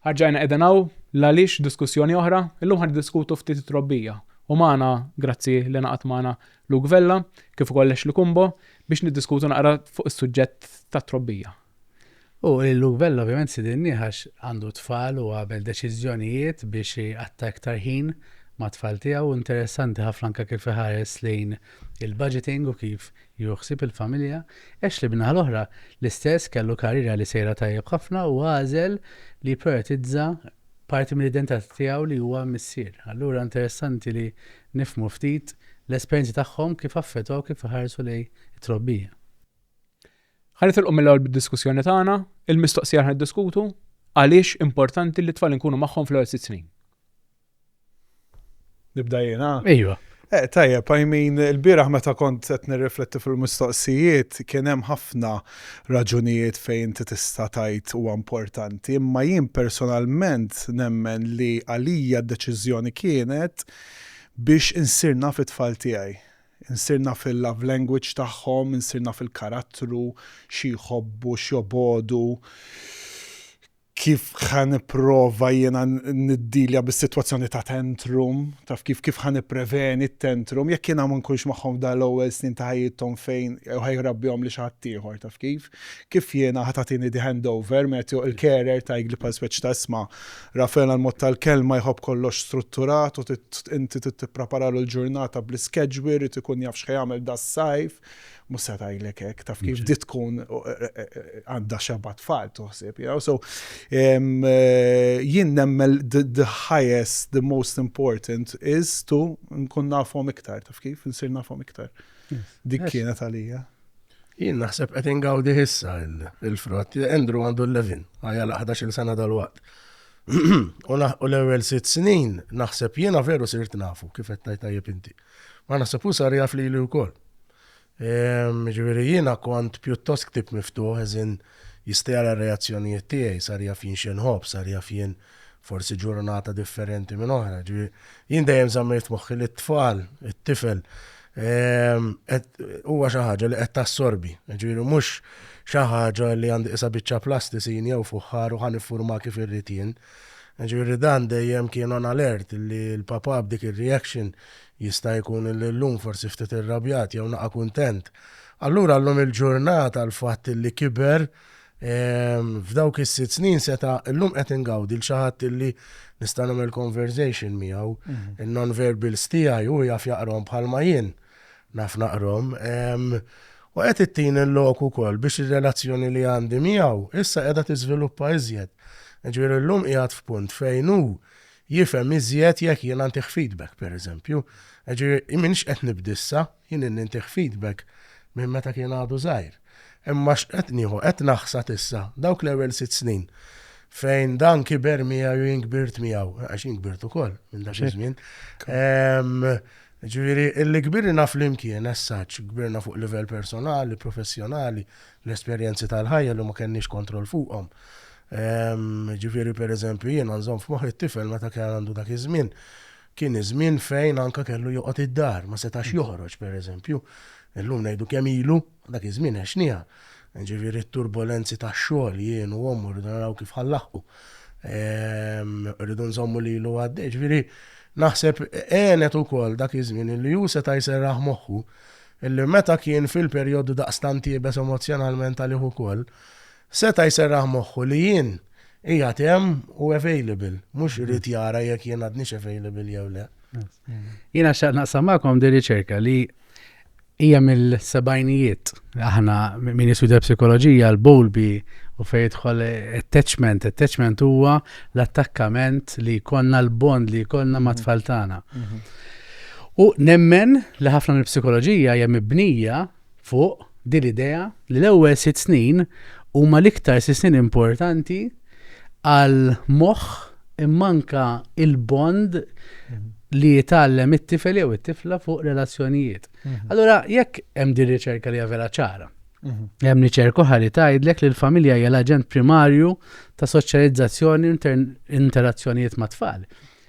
Ħarġajna edenaw, l-għalix diskussjoni oħra, illum ħad diskutu ftit trobbija. U maħna, grazzi li naqat maħna Luke Vella, kif ukoll li kumbo, biex niddiskutu naqra fuq is-suġġett ta' trobbija. U lil Luke Vella ovvjament stidinni għax għandu tfal u għamel deċiżjonijiet biex iqatta' iktar ħin mat-tfal tiegħu. Interessanti ħafna anke kif iħares lejn il-budgeting u kif jieħu ħsieb il-familja. Ashley min-naħa l-oħra l-istess kellu karriera li sejra tajjeb ħafna u għażel li jipprijoritizza parti mill-identità tiegħu li huwa missier. Allura interessanti li nifhmu ftit l-esperjenzi tagħhom kif affettwaw kif iħarsu lejn it-trobbija. Ħa nitilqu mill-ewwel bid-diskussjoni tagħna, il-mistoqsija ħa niddiskutu għaliex importanti li t-tfal inkunu magħhom fl-ewwel sitt snin. Nibda jiena? Ejwa. Eh, tajjeb, I mean, il-biraħ meta kont qed nirrifletti fil-mistoqsijiet kien hemm ħafna raġunijiet fejn inti tista' tajt huwa importanti, imma jien personalment nemmen li għalija d-deċiżjoni kienet biex insirna fit-tfal tiegħi. Insir naf il-love language tagħhom, insir naf il-karattru, xi jħobbu, x'jobogħdu, kif ħa nipprova jiena niddilja bis-sitwazzjoni ta' tantrum, taf kif, kif ħa nippreveni t-tantrum, jekk jiena ma nkunx magħhom f'dan l-ewwel snin ta' ħajjithom fejn jew ħa jrabbihomli xi ħaddieħor, taf kif. Kif jiena ħa tagħtini the hand over, Matthew, il-carer ta' jgli bħal speċi ta' isma. Rafael għall-mod tal-kelma jħobb kollox strutturat u inti trid tippreparalu l-ġurnata bl-iskedjwi jrid ikun jaf x'ħa jagħmel das-sajf. Mhux se tgħidlek hekk, taf kif di tkun għandha xeba' tfal toħsib, you know. So jien nemmen the highest, the most important is to nkun nafhom iktar, taf kif, insir nafhom iktar. Dik kienet għalija. Jien naħseb qed ingawdi issa il-frott. Andrew għandu l-levin, għajja l-11 il-sena dal-waqt. U naħqu l-ewwel sitt snin naħseb jiena veru sirt nafu kif qed tajt tajjeb inti. Ma naħseb u sar jaf li li wkoll. Ehm, ġifieri jiena kont pjuttost ktib miftuħ eżin jistejara reazzjonijiet tiegħi sar jaf jien xinħob, sar jaf jien forsi ġurnata differenti minn oħra. Jien dejjem żammejt moħħi li t-tfal, it-tifel, Ehm, huwa xi ħaġa li qed tassorbi, ġifieri mhux xi ħaġa li għandi qisha biċċa plastisin jew fuħħar u ħan iffurma kif irrid jien. Ġifieri dan dejjem kien on alert li l-papa b'dik ir-reaction jista' jkun li llum forsi ftit irrabjat jew naqa' kuntent. Allura llum il-ġurnata l-fatt li kiber F'dawk is-sitt snin seta' llum qed ingawdi l xi ħadd illi nista' nagħmel conversation miegħu. Mhm. Il-non-verbals tiegħi u jaf jaqrom bħalma jien naf naqrom. U qed ittin il-lok ukoll biex ir-relazzjoni li għandi miegħu issa qiegħda tiżviluppa iżjed. Ġifieri llum qiegħed f'punt fejn hu jifhem iżjed jekk jien nagħtih feedback pereżempju. Ġifieri minix qed nibdissa. Jien ilni ntih feedback minn meta kien għadu żgħir. Imma x'qed nieħu, qed naħsad issa, dawk l-ewwel sitt snin fejn dan kiber miegħi u jien kbirt miegħu, għax jien kbirt ukoll minn dak iż-żmien. Ġifieri, li kbirna flimkien as such, kbirna fuq livell personali, professjonali, l-esperjenzi tal-ħajja li ma kenniex kontroll fuqhom. Ġifieri, pereżempju, jiena nżomm f'moħħi t-tifel meta kien għandu dak iż-żmien, Kien iż-żmien fejn anke kellu joqgħod id-dar, ma setax joħroġ, pereżempju. Illum ngħidu kemm ilu, dak iż-żmien għexniha. Jiġifieri t-turbolenzi tax-xogħol, jien u ommu rridu naraw kif ħa nlaħħqu. Irridu nżommu lilu għaddej. Jiġifieri naħseb għenet ukoll dak iż-żmien illi hu seta' jserraħ moħħu illi meta kien fil-perjodu daqstant iebes emozzjonalment għalih ukoll, Seta' jserraħ moħħu li jien qiegħed hemm u available, mhux irid jara jekk jien għadnix available jew le. Jiena xaqt naqsam magħkom di riċerka li hija mill-sebajnijiet. Aħna min jiswida psikoloġija l-Bowlby u fejn jidħol attachment, attachment huwa l-attakkament li konna l-bond li konna ma' tfal tagħna. U nemmen li ħafna mill-psikoloġija hija mibnija fuq din l-idea li l-ewwel sitt snin huma l-iktar sitt snin importanti għal moħħ imma anke il-bond li jitgħallem it-tifel jew it-tifla fuq relazzjonijiet. Mhm. Allura jekk hemm din riċerka li vera ċara. Mhm. Hemm riċerka oħra li tgħidlek li l-familja hija l-aġent primarju ta' soċjalizzazzjoni interazzjonijiet ma' tfal.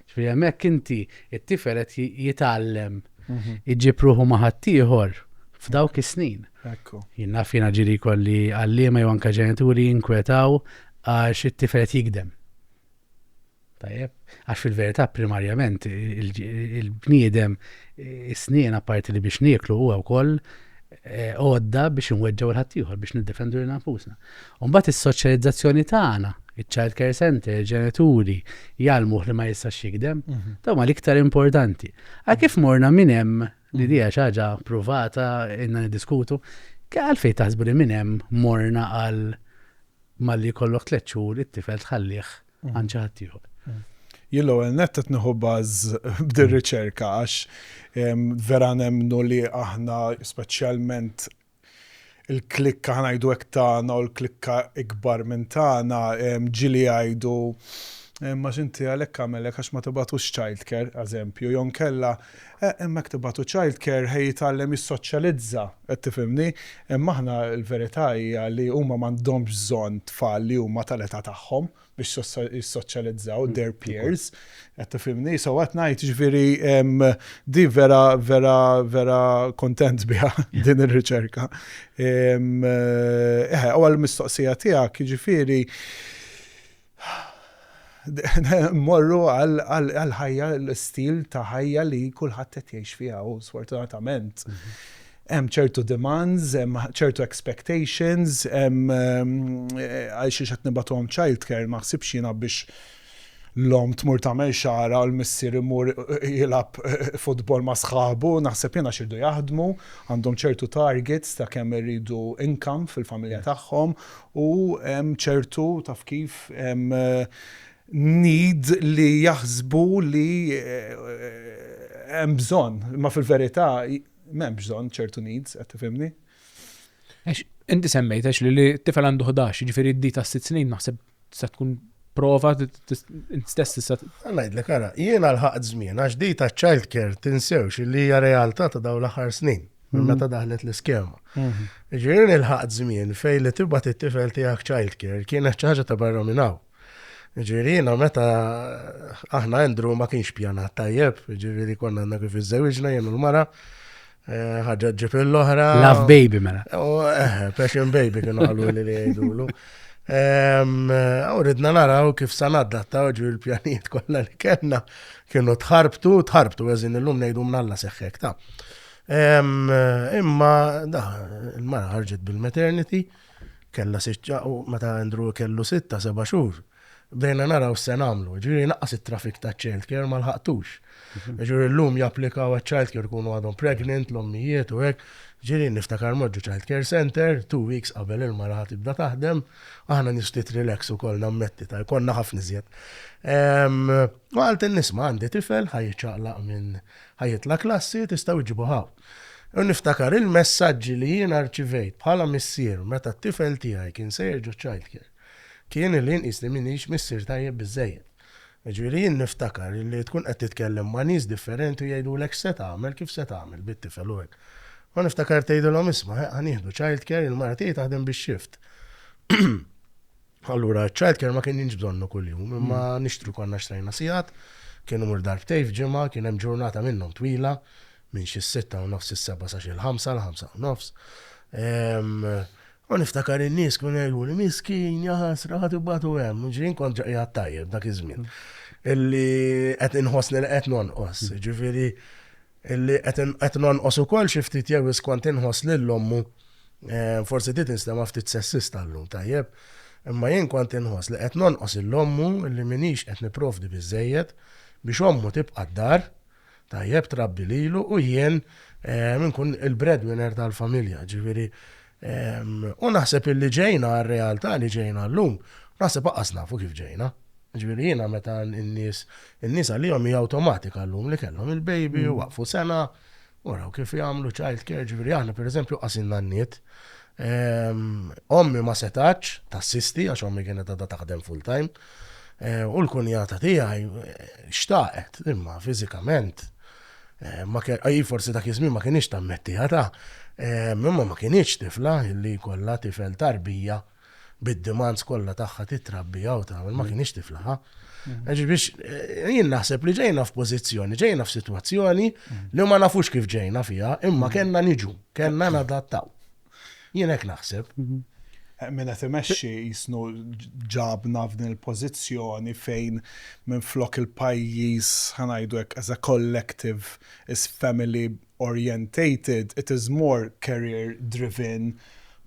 Ġifieri hemmhekk inti t-tifel qed jitgħallem iġib ruħu ma' ħaddieħor f'dawk is-snin. Ekku. Jien naf jiena ġiri kolli għalliema jew anke ġenituri jinkwetaw għax it-tifel qed jikdem. Tajjeb, għax fil-verità primarjament il-bniedem is-snien apparti li biex nieklu huwa wkoll eh, għodda biex inweġġaw il-ħaddieħor biex niddefendu lil nafusna. U mbagħad is-soċjalizzazzjoni tagħna, iċ-child care center, il-ġenituri, jgħallmuh li ma jistax jikdem. Mhm. Dawn ma l-iktar importanti. Għal kif morna minn hemm li mhm. dija xi ħaġa pruvata inna niddiskutu, għalfejn taħsbu li minn hemm morna għal malli kollok tliet xhur it-tifel tħallih mhm. għan ċaħat ieħor. Jillu għal nettet nħu baż b'dir riċerka għax vera nemnu li aħna speċjalment il-klikka ħanajdu hekk tagħna u l-klikka ikbar minn tagħna ġili jgħidu Imma x'inti għalhekk għamel hekk għax ma tibgħatux childcare, eżempju, jew inkella eh, imma hekk tibgħatu childcare ħej jitgħallem jissoċjalizza, qed tifhimni? Imma aħna l-verità hija li huma m'għandhomx bżonn tfal li huma tal-età tagħhom biex jissoċjalizzaw their peers. Qed tifhimni, so qed ngħid ġifieri di vera vera vera kontent biha din ir-riċerka. Eħe, u għall-mistoqsija tiegħek ġifieri morru għal ħajja l-istil ta' ħajja li kulħadd qed jgħix fiha u sfortunatament. Mhm. Hemm ċertu demands, hemm ċertu expectations, hemm għalxiex qed nibgħatuhom childcare, ma ħsibx jiena biex l-omm tmur tagħmel xagħarha u l-missier imur jilgħab futbol ma' sħabu, naħseb jien għax iridu jaħdmu, għandhom ċertu targets ta' kemm iridu income fil-familja tagħhom u hemm ċertu, taf kif, need li jaħsbu li hemm bżonn. Imma fil-verità M'hemmx bżonn ċertu needs, qed tifhimni? Għax inti semmejt għax li t-tifel għandu 11, jiġifieri d-di ta' sitt snin naħseb se tkun prova stess tista' Ngħidlek ara, jiena l-ħaqt żmien għax di ta' child care tinsewx li hija realtà ta' dawn l-aħħar snin minn mhm. meta daħlet l-iskema. Mhm. Ġirin il-ħaqt żmien fejn li tibgħat it-tifel tiegħek child care kienet ċaġa ta' barra minn hawn. Ġifieri jiena meta aħna Andrew ma kienx pjanat tajjeb, ġifieri konna għandna kif iżżewġna jien u l-mara. Eh, ħagġa ġib l-oħra. Love baby mela. Oh, eh, passion baby kienu għallu li li għajdulu. Għawridna eh, naraw kif sanadda ta' ġu l-pjaniet kolla li kena kienu tħarbtu, tħarbtu għazin l-lum nejdu mnalla seħħek ta' imma da, il-mara ħarġet bil-maternity. Kellna sitt xhur u meta Andrew kellu sitta, seba' xhur, bdejna naraw x'se nagħmlu. Jiġifieri jnaqqas it-traffic taċ-childcare ma lħaqtux. Jiġifieri llum japplikaw għaċ-childcare ikunu għadhom pregnant, l-ommijiet u hekk. Jiġifieri niftakar mmort ġo childcare centre, two weeks qabel il-mara ħa tibda taħdem, aħna nies ftit relax ukoll nammetti, ta' konna ħafna iżjed. U qaltilni, 'Isma' għandi tifel ħa jiċċaqlaq minn ħa jitla' klassi, tistgħu ġġibuh hawn. U niftakar il-messaġġi li jiena rċivejt bħala missier meta t-tifel tiegħi kien se jerġa' childcare kien illi nqis li m'iniex missier tajjeb biżżejjed. Jiġifieri jien niftakar illi tkun qed titkellem ma' nies differenti u jgħidulek x'se tagħmel, kif se tagħmel bit-tifel u hekk. U niftakar tgħidilhom isma' ħa ħa nieħdu childcare, il-mara tiegħi taħdem bix-shift. Allura ċ-childcare ma kienx bżonnu kuljum, imma nixtru konna xtrajna sigħat, kien imur darbtejn f'ġimgħa, kien hemm ġurnata minnhom twila, minn xi s-sitta u nofs is-sebgħa sa xi l-ħamsa, l-ħamsa u nofs. U niftakar in-nies kienu jgħiduli, miskin, jaħasra, ħadd ibatu hemm. Ġirin kont ġaqi tajjeb dak iż-żmien. Illi qed inħossni li qed nonqos, ġifieri illi qed nonqos ukoll xi ftit jew iskont inħoss lil ommu. Forsi dit instema' ftit sessista llum, tajjeb? Imma jien kont inħoss li qed nonqos lil ommu illi m'iniex qed nipprovdi biżżejjed biex ommu tibqa' d-dar. tajjeb trabbi lilu u jien inkun il-breadwinner tal-familja ġifieri u naħseb illi ġejna għar-realtà li ġejna llum naħseb aqqas nafu kif ġejna. Ġifieri jiena meta n-nies in-nies għalihom hija awtomatika llum li kellhom il-baby waqfu sena u raw kif jagħmlu child care ġifieri aħna pereżempju qasin nanniet ommi ma setgħetx tassisti għax ommi kienet għadha taħdem full time Eh, u l-kunjata tiegħi eh, xtaqet, imma fiżikament eh, ma kien forsi dak iż-żmien ma kienx tammetti ħata, imma ma kienx tifla li kollha tifel tarbija bid-demands kollha tagħha titrabbija u tagħmel ma kienx tiflaħa. Għax biex jien naħseb li ġejna f'pożizzjoni, ġejna f'sitwazzjoni li ma nafux kif ġejna fiha, imma kellna niġu, kellna nadattaw. Jien hekk naħseb. Min qed imexxi jisnu ġabna f'din il-pożizzjoni fejn minn flok il-pajjiż ħanajdu hekk as a collective is family orientated it is more career driven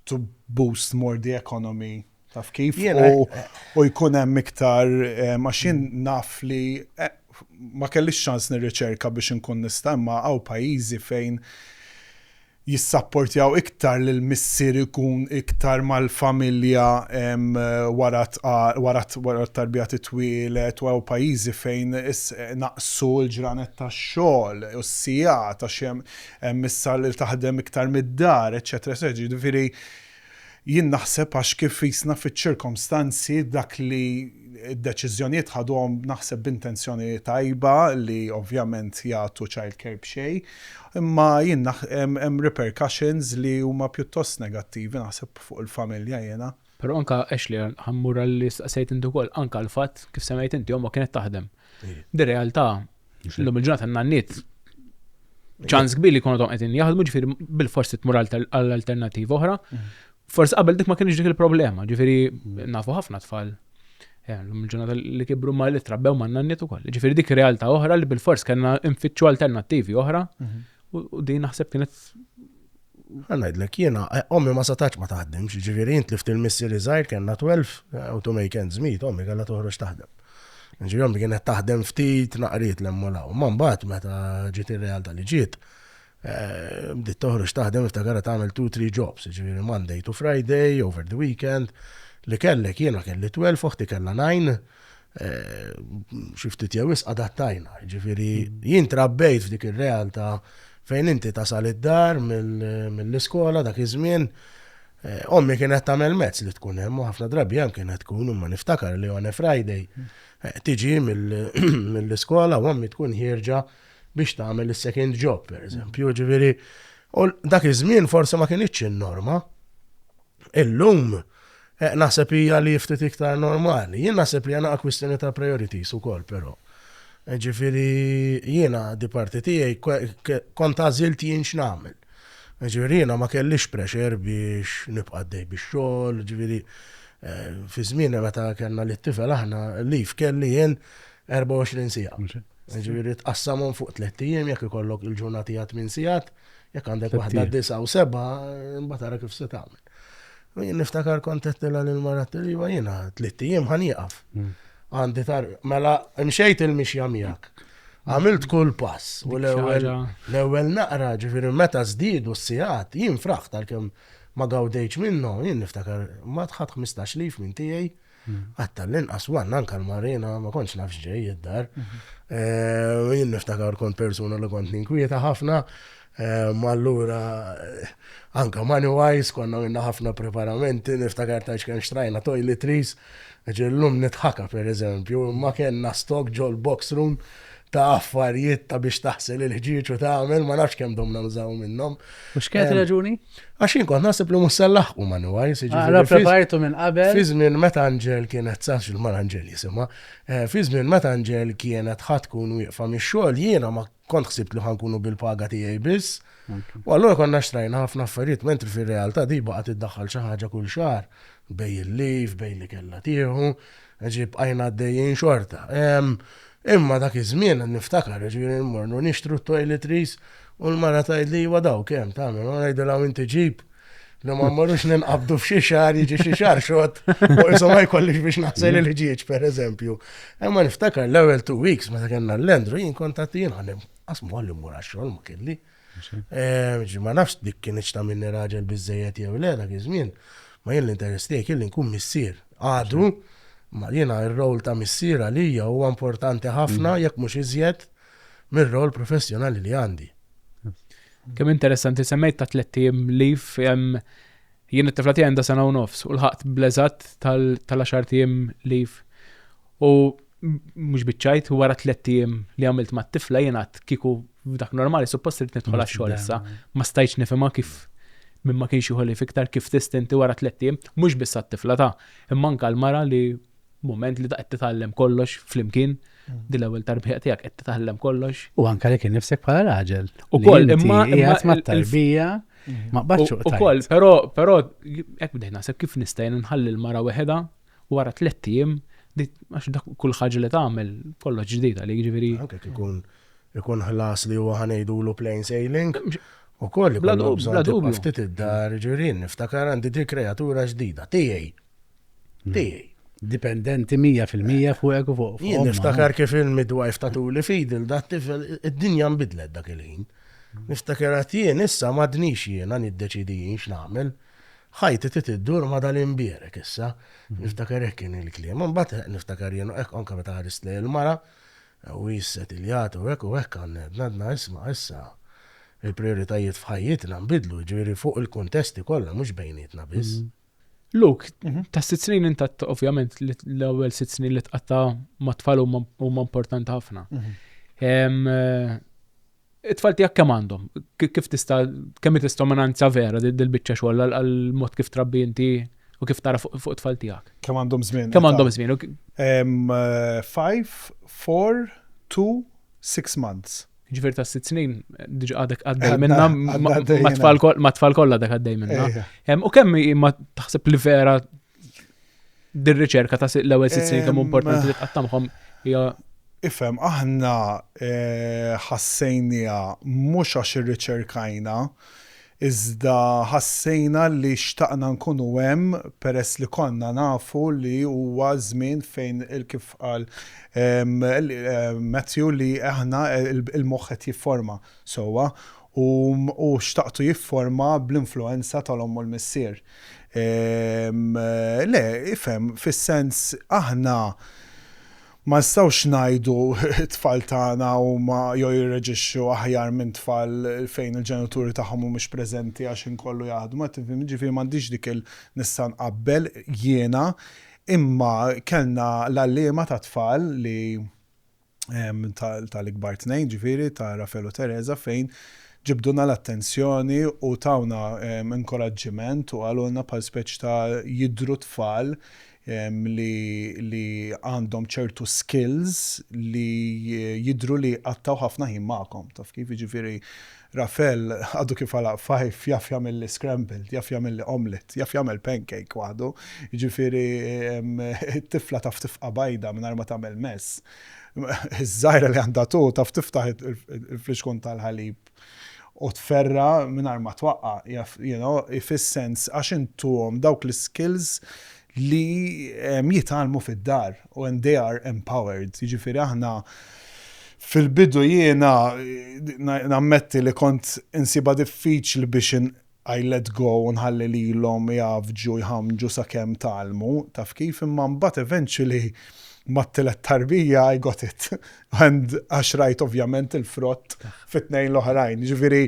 to boost more the economy Taf kif? U jkun hemm iktar maċin mm. naf li eh, ma kellix ċans nirriċerka biex nkun nista' imma għaw pajjiżi fejn jissapportjaw iktar li l-missir ikun iktar mal-familja wara t-tarbija titwilet u pajizi fejn naqsu l-ġranet ta' xogħol u s-sija ta' xem missar li taħdem iktar mid-dar, eċetera, eċetera. Ġifieri Jien naħseb għax kif qisna fiċ-ċirkomstanzi dak li d-deċiżjonijiet ħadhom naħseb b'intenzjoni tajba li ovvjament jagħtu childcare b'xejn imma jien hemm repercussions li huma pjuttost negattivi naħseb fuq il-familja jiena. Però anke Ashley, ħa mmur għal li staqsejt inti wkoll, anke l-fatt kif semmejt inti, ommok kienet taħdem. Di realtà, l-lum il-ġurnata n-nanniet ċans kbir li kunu tom qegħdin jaħdmu ġifieri bil-forsi tmur għal alternattiva oħra. Mm. Forsi qabel dik ma kienx dik il-problema, ġifieri mm. nafu ħafna tfal eh, l-ġurnata li kibru ma li trabbew ma nanniet ukoll. Ġifieri dik realtà oħra li bil-fors kellna nfittxu alternattivi oħra mm-hmm. u din naħseb kienet Ħa ngħidlek, jiena, ommi ma setgħetx ma taħdimx, jiġifieri jien tlift il-missieri żgħir, kellna twelv, u to make ends meet, ommi kellha toħroġ taħdem. Jiġifieri ommi kienet taħdem ftit naqriet 'l hemm u 'l hawn. Imma mbagħad meta ġiet ir-realtà li ġiet, bdiet toħroġ taħdem niftakarha tagħmel two, three jobs, jiġifieri Monday to Friday, over the weekend, li kellek, jiena kelli twelv, oħti kellha nine, xi ftit jew wisq adattajna. Jiġifieri jien trabbejt f'dik ir-realtà fejn inti tasal id-dar mill-iskola dak iż-żmien Eh, ommi kienet tagħmel mezz li tkun hemm u ħafna drabi hemm kienet tkun imma niftakar li on a Friday eh, tiġi mill-iskola u ommi tkun ħierġa biex tagħmel is-second job, per eżempju, ġifieri. U dak iż-żmien forsi ma kienitx in-norma. Illum, eh, naħseb hija li ftit iktar normali. Jien naħseb li għana kwistjoni ta' priorities ukoll però. Eh, ġifieri jiena di parti tiegħi kont għażilt jien x'nagħmel. Eh, ġifieri jiena ma kellix pressure biex nibqa' dej bix-xogħol, ġifieri fi żmien meta kellna li tifel aħna li kelli jien 24 sija. Ġifieri tqassamhom fuq tliet ijiem jekk ikollok il-ġurnati għat minn sigħat Jekk għandek waħda disa u seba, imbagħad ara kif se tagħmel. U jien niftakar kont qedtilha lil mara tiliva jiena tlitt ijiem ħan jieqaf. Hmm. Għandi tar mela mxejt il-mixja miegħek. Għamilt kull pass u l-ewwel naqra ġifieri meta żdiedu s-sigħat jien fraħ tal-kemm ma gawdejx minnhom, jien niftakar ma tħadd 15 lif minn tiegħi. Għadd tal-inqas manna anke l-marina ma kontx naf x'ġej id-dar. Eh, jien niftakar kont persuna li kont ninkwieta ħafna, eh, ma allura eh, anke money wise konna minna ħafna preparamenti, niftakar ta' x'kemm xtrajna toiletries, ġellum nitħaka per eżempju, ma kellna stok ġol box room ta' affarijiet ta' biex taħsel il-ħġieġ u tagħmel ma nafx kemm domna nużaw minnhom. Mhux kienet ehm, raġuni? Għax jien kont naħseb li mhux se laħqu ma nuwajs. Għara prepartu minn qabel. Fi żmien meta Anġel kienet sax il-mar Anġel jisimha, eh, fi żmien meta Anġel kienet ħadd tkun wieqfa mix-xogħol jiena ma kont ħsibt li ħankunu bil-paga tiegħi biss. U allura konna xtrajna ħafna affarijiet, mentri fir-realtà di baqgħet iddaħħal xi ħaġa kull xahar bej il-liv, bej li kellha tieħu. Ġifieri bqajna għaddejjin xorta. Imma dak iż-żmien niftakar, ġifieri mmorru nixtru t-toiletries u l-mara tgħidli iva dawk hemm tagħmel, u ngħidilha u inti ġib li ma mmorrux ninqabdu f'xi xagħar jiġi xi xagħar xott u qishom ma jkollix biex naħsel il-ħġieġ pereżempju. Imma niftakar l-ewwel two weeks meta kellna l-Landry jien kont għad jien ħa nqassmu ħalli mmur għax-xogħol ma kelli. Ma nafx dik kienx ta' minni raġel biżżejjed jew le dak iż-żmien, ma jien l-interess tiegħi kien li nkun missier. Għadu, ma jiena r-rol ta' missier għalija huwa importanti ħafna jekk mhux iżjed mir-rol professjonali li għandi. Kemm interessanti, semmejt ta' tlett ijiem leave, Jien it-tifla tiegħi għandha sena u nofs u lħaqt bl-eżatt tal-għaxart ijiem leave. U mhux biċċajt, u wara tlett ijiem li għamilt mat-tifla jien għad kieku f'dak normali suppost irid nidħol għax-xogħol issa. Ma stajtx nifhimha kif min ma kienx jieħu leave iktar kif tista' inti wara tlett ijiem, mhux biss għat-tifla ta', imma anke għall-mara li mument li qed titgħallem kollox flimkien, din l-ewwel tarbija tiegħek qed titgħallem kollox. U anke li kien nifsek bħala raġel. Ukoll imma. Qiegħed mat-tarbija. Ma qbadx u koll, pero, pero, ek bdejna, se kif nistajn nħalli l-mara weħeda wara tlet ijiem, għax dak kull ħaġa li tagħmel kollox ġdid għalik ġifieri. Anke ikun ikun ħlas li huwa ħanejdulu plain sailing. U koll, bla dubju. Ftit id-dar, ġirin, niftakar għandi dik kreatura ġdida, tijaj. Tiegħi. Dipendenti 100% fuqek u fuq. Jien niftakar kif il-midwife ta' tuli fidi l dat tifel id-dinja nbidlet dak il-ħin. Niftakar għat jien issa m'għadnix jiena niddeċidi jien x'nagħmel. Ħajti trid iddur ma' dal-imbierek issa. Niftakar hekk kien il-kliem. Imbagħad niftakar jien hekk anke meta ħarist lejn il-mara u hi ssetiljat u hekk u hekk għandna għedna isma' issa il-prijoritajiet f'ħajjitna nbidlu jiġifieri fuq il-kuntesti kollha mhux bejnietna biss. Luke, mhm. ta' sitt snin inta ovvjament l-ewwel sitt snin li tqatta ma' tfal huma importanti ħafna. Mhm. Eh, it-tfal tiegħek kemm għandhom? Kif tista' kemm tista' minanza vera dil-biċċa xogħol għall-mod kif trabbi inti u kif tara fuq it-tfal tiegħek? Kemm għandhom żmien? Kemm għandhom żmien? 5, 4, 2, 6 months. Ġifier ta' sitt snin diġa għadek għaddej minna ma' tfal kollha dak għaddej minna. U kemm ma taħseb li vera dir-riċerka ta' l-ewwel sitt snin kemm importanti li tqattamhom hija Ifhem, aħna eh, ħassejnija mhux għax irriċerkajna, iżda ħassejna li xtaqna nkunu hemm peress li konna nafu li huwa żmien fejn kif qal Matthew li aħna l-moħħ qed jifforma sewwa u hu xtaqtu jifforma bl-influwenza tal-omm u l-missier. Le, ifhem, fis-sens aħna Ma nistgħux ngħidu t-tfal tagħna huma jew jirreaġixxu aħjar minn tfal fejn il-ġenituri tagħhom mhumiex preżenti għax ħin kollu jaħdmu, qed tifhimni? Jiġifieri m'għandix dik il nista' nqabbel jiena imma kellna l-għalliema tat-tfal li tal-ikbar tnejn ġifieri ta' Rafael u Teresa fejn ġibdulna l-attenzjoni u tawna inkoraġġiment u qalulna bħal speċi ta' jidhru tfal li għandhom ċertu skills li jidhru li jqattgħu ħafna ħin magħkom, taf kif, jiġifieri Rafael għadu kif għalaq f'Hive jaf jagħmilli scrambled, jaf jagħmilli omelette, jaf jagħmel pancake waħdu, jiġifieri t-tifla taf tifqa' bajda mingħajr ma tagħmel mess, iż-żgħira li għandha two taf tiftaħ il-flixkun tal-ħalib u tferra' mingħajr ma twaqqa' jaf you know fis-sens għax int tuhom dawk l-iskills li jitgħallmu fid-dar u and they are empowered jiġifieri aħna fil-bidu jiena nammetti li kont insibha diffiċli biex I let go u nħalli lilhom igħavġu jħammġu sakemm tgħallmu, taf kif, imma mbagħad eventually mat-tielet tarbija I got it and għax rajt ovvjament il-frott fit-tnejn l-oħrajn. Jiġifieri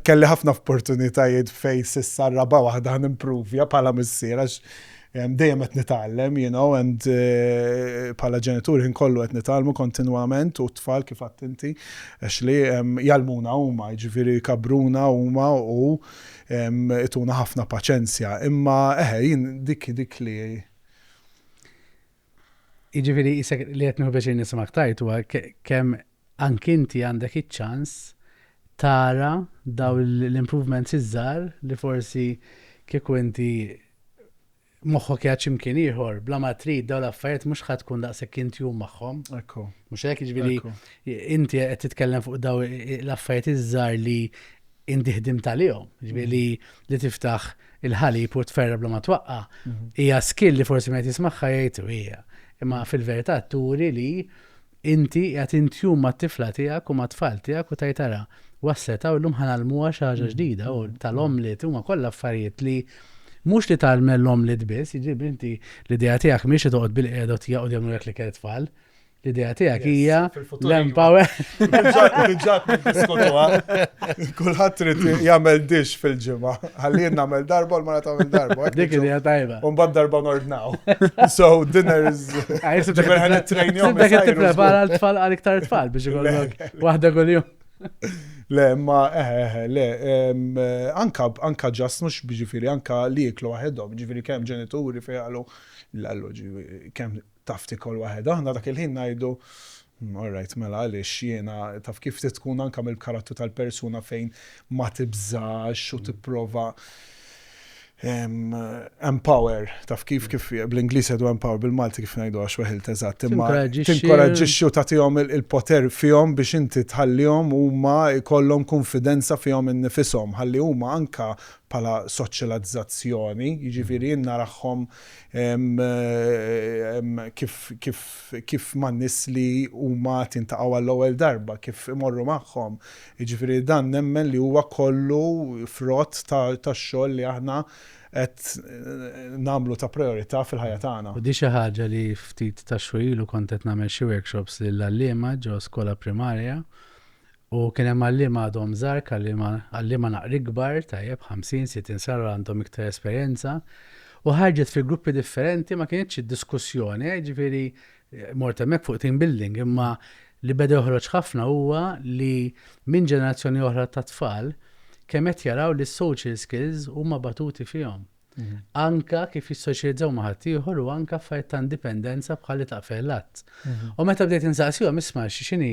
kelli ħafna opportunitajiet fejn s'issa r-raba' waħda ħa nimpruvja bħala missier għax Dejjem qed nitgħallem you know and bħala ġenitur ħin kollu qed nitgħallmu kontinwament u t-tfal kif għadt inti Ashley jgħallmuna huma, jiġifieri jkabbruna huma u jtuna ħafna paċenzja. Imma eħe jien dik dik li Jiġifieri isek li qed nieħu pjaċir nisimgħek tajt huwa kemm anki inti għandek iċ-ċans tara daw l-improvements iż-żgħar li forsi kieku inti moħħok jgħid x'imkien ieħor, bla ma trid daw l-affarijiet mhux ħadd tkun daqshekk intjum magħhom. Ekku. Mhux hekk jiġifieri inti qed titkellem fuq daw l-affarijiet iż-żgħar li inti ħdimt għalihom, ġifieri li li tiftaħ il-ħalib u tferra bla ma twaqqa, mhm. hija skill li forsi ma jtismaħħa jgħid u hija. Imma fil-verità turi li inti qed intjum mat-tifla tiegħek u mat-tfal tiegħek u tajtara waslet u llum ħanalmuha xi ħaġa mhm. ġdida u tal-omlet huma kollha affarijiet li mhux li tagħmel l-omlet biss, jiġifieri inti l-idea tiegħek mhix li toqgħod bil-qiegħda tiegħu jagħmlu li kienet tfal. L-idea tiegħek hija l-empower. Ġat diskutuha. Kulħadd trid jagħmel dix fil-ġimgħa. Ħalli jien nagħmel darba l-mara tagħmel darba. Dik idea tajba. U mbagħad darba nordnaw. So dinners. Ah, Ġifier ħan it-trejnjom. Dak qed tipprepara l-tfal għal iktar tfal biex ikollok waħda kuljum. Le, ma, eh, eh, eh le, eh, anka, anka ġas mux ġifiri, anka li jiklu għahedom, ġifiri kem ġenituri fejgħalu l-allu, kem Taf tiekol waħedha, aħna dak il-ħin ngħidu, all right mela għaliex jiena, taf kif trid tkun anke mill-karattru tal-persuna fejn ma tibżax u tipprova empower, taf kif kif bl-Ingliż jgħidu empower bil-Malti kif ngħidu għax weħilt eżatt, imma tinkoraġġixxi u tagħtihom il-poter fihom biex inti tħallihom huma jkollhom kunfidenza fihom innifishom, ħalli huma anke bħala soċjalizzazzjoni, jiġifieri jien narahom kif man-nies li huma qed jiltaqgħu għall-ewwel darba, kif imorru magħhom. Jiġifieri dan nemmen li huwa kollu frott tax-xogħol li aħna qed nagħmlu ta' prijorità fil-ħajja tagħna. U di xi ħaġa li ftit tax-xhur ilu kont qed nagħmel xi workshops lill-għalliema ġo skola primarja U kien hemm għalliema għadhom żgħar, għalliema, għalliema naqra ikbar, tajjeb, ħamsin, sittin sena, għandhom iktar esperjenza, u ħarġet fi gruppi differenti, ma kinitx id-diskussjoni, eh, ġifieri, mort hemmhekk fuq team building, imma li beda joħroġ ħafna huwa li minn ġenerazzjoni oħra ta' tfal kemm qed jaraw li s-social skills huma batuti fihom. anke kif jissoċjalizzaw ma' ħaddieħor u anke affarijiet ta' indipendenza bħal li taqfel l-att. Mhm. U meta bdejt insaqsihom isma' x'inhi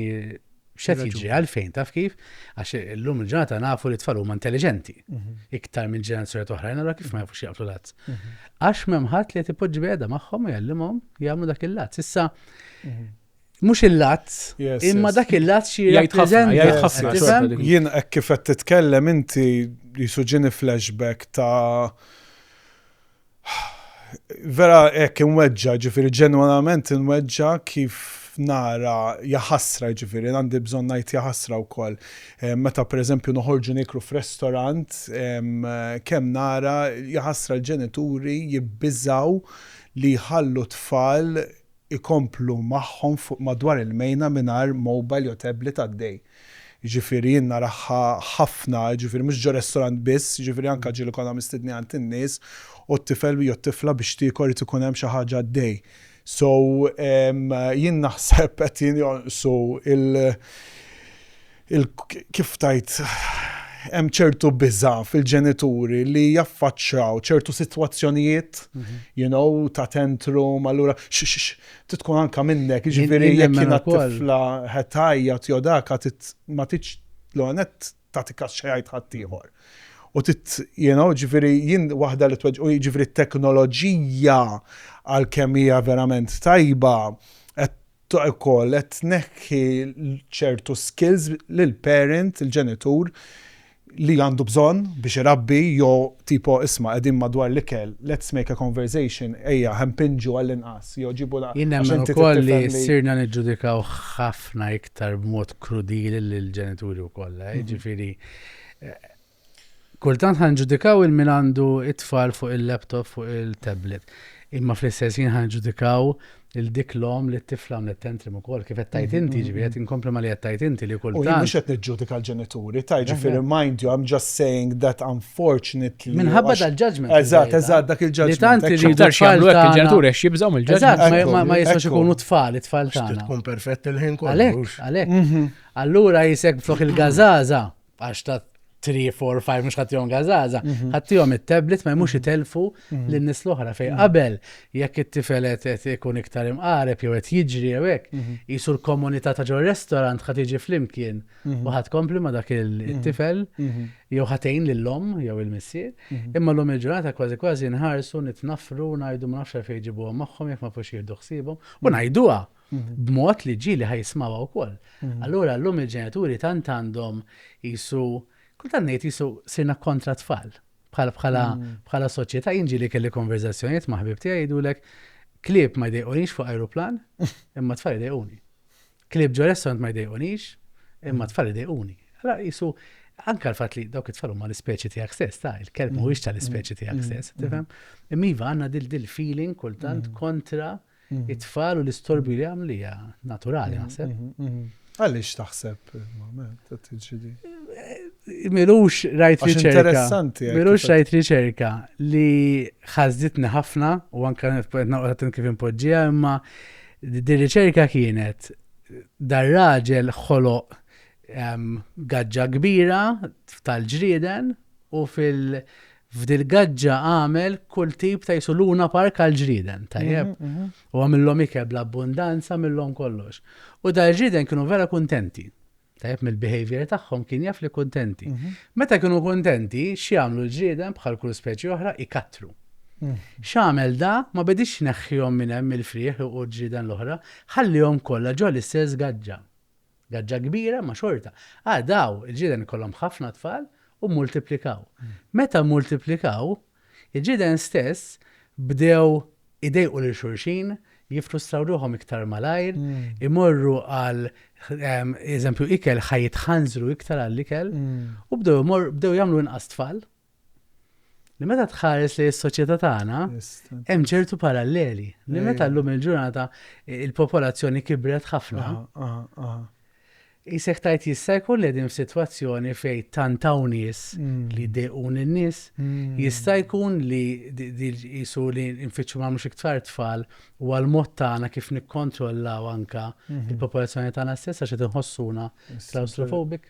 x'qed jiġri għalfejn taf kif għax illum il-ġurnata nafu li tfal huma intelliġenti mhm. iktar minn ġenerazzjoni oħra, allura kif ma jafux jaqflu l-att. Mhm. Għax m'hemm ħadd li qed ipoġġi magħhom u jgħallimhom jagħmlu dak il-att. Issa Mhux il-lazz, imma dak il-lazz xi jirrappreżenta. Jgħid ħafna, jgħid ħafna. Jien hekk kif qed titkellem inti jisu ġieni flashback ta' vera hekk inweġġa, ġifieri ġenwanament inweġġa kif nara jaħasra ġifieri għandi bżonn ngħid jaħasra wkoll. Meta pereżempju noħorġu nieklu f'restorant kemm nara jaħasra l-ġenituri jibbiżgħu li jħallu t-tfal ikomplu magħhom fuq madwar il-mejna mingħajr mobile jew tablet għaddej. Jiġifieri jien naraha ħafna, jiġifieri mhux ġo restorant biss, jiġifieri anke ġieli konna mistednin għand in-nies u t-tifel jew t-tifla biex tiekol irid ikun hemm xi ħaġa għaddej. So jien naħseb qed jinjonqsu l. il kif tgħid, hemm ċertu biża' fil-ġenituri li jaffaċċaw ċertu sitwazzjonijiet, you know, ta' tantrum, allura tkun anka minnek, jiġifieri jekk jiena tifla qed tgħajjat jew dak ma tridx l-ewwel nett tagħti kas xi jgħid ħaddieħor. U tit, you know, ġifieri jien waħda li tweġġ, u jiġifieri t-teknoloġija għalkemm hija verament tajba qed ukoll qed tneħħi ċertu skills lil parent, il-ġenitur, li għandu bżonn biex irabbi jew tipo isma' qegħdin madwar l-ikel, let's make a conversation, ejja ħa mpinġu għall-inqas jew ġibu l-. Jien nemmen ukoll li sirna niġġudikaw ħafna iktar b'mod krudili lill-ġenituri wkoll. Jiġifieri Kultant ħa nġudikaw il min għandu it-tfal fuq il-laptop, fuq il-tablet. Imma fl-istess jien ħa nġudikaw il-dik l-om li t-tifla għamlet tentrim ukoll kif qed tajt inti, mm-hmm. ġifieri qed inkompli ma li qed tajt inti li kultant. Jien mhux qed niġġudika l-ġenituri, tajt ġifieri mind you I'm just saying that unfortunately. Minħabba dal-ġudgment. Eżatt, eżatt dak il-ġudgment. Li tant irridu x'jagħmlu hekk il-ġenituri għax jibżgħu mill-ġudgment. ma jistax ikunu tfal it-tfal tagħna. Tkun perfett il-ħin kollu. Għalhekk, għalhekk. Mm-hmm. Allura jisek flok il-gażaża għax ta' 3, 4, 5, mux ħattijom għazaza, mhm. ħattijom il-tablet ma jmux jitelfu mhm. mhm. l-nis l-oħra fej. Qabel, jekk it-tifelet qed ikun iktar imqareb jew qed jiġri jew hekk, jisu l-komunità ta' ġol restorant ħad jiġi flimkien u ħad kompli ma' dak il-tifel jew ħatejn lill-om jew il-missier. Imma l-om il-ġurnata kważi kważi nħarsu nitnafru ngħidu ma nafx fejn ġibuhom magħhom jekk ma fux jieħdu ħsiebhom u ngħiduha b'mod li ġieli ħa jismgħuha wkoll. Allura llum il-ġenituri tant għandhom qisu, kultant ngħid qisu sirna kontra t-tfal. Bħal bħala bħala soċjetà jien ġieli kelli konverżazzjonijiet ma' ħbieb tiegħi jgħidulek klieb ma jdejqunix fuq ajruplan imma t-tfal idejquni. Klieb ġo restaurant ma jdejqunix imma t-tfal idejquni. Allura qisu anke l-fatt li dawk it-tfal huma l-ispeċi tiegħek stess, ta' il-kelb mhuwiex tal-ispeċi tiegħek stess, tifhem? Imma iva għandna dil-feeling kultant kontra it-tfal u l-istorbju li għamlu hija naturali naħseb. Għaliex taħseb qed tiġi di? Milux rajt riċerka. Milux rajt riċerka li ħażditni ħafna u anke qed kif impoġġija imma di riċerka kienet dar raġel ħoloq gaġġa kbira tal-ġrieden u fil- F'dil-gaġġa għamel kull tip ta' jisu luna park għall-ġrieden, tajjeb. U għamillhom ikel bl-abbundanza, għamillhom kollox. U dal-ġrieden kienu vera kuntenti. Tajjeb mill-behavior tagħhom kien jaf li kuntenti. Meta kienu kuntenti, x'jagħmlu l-ġrieden bħal kull speċi oħra jkattru. X'għamel da, ma bediex jneħħihom minn hemm mill-frieħ u l-ġrieden l-oħra, ħalliehom kollha ġo l-istess gaġġa. Gaġġa kbira, ma xorta. Ah, daw, il-ġiden ikollhom ħafna tfal u mmultiplikaw. Meta mmultiplikaw, il-ġiden stess bdew idejqu lil xulxin, jiffrustraw ruħhom iktar malajr, imorru għal, eżempju, ikel, ħa jitħanżru iktar għall-ikel, u bdew jagħmlu inqas tfal. Li meta tħares li s-soċjetà tagħna hemm ċertu paralleli. Li meta llum il-ġurnata il-popolazzjoni kibret ħafna. Isek tajt jista' jkun li din f'sitwazzjoni fej tantaw nies mm. li dejqun in-nies, mm. jista' jkun li jisu li nfittxu ma mhux iktar tfal u għal mod tagħna kif nikkontrollaw anka mhm. il-popolazzjoni tagħna stessa xi tinħossuna klaustrofobik.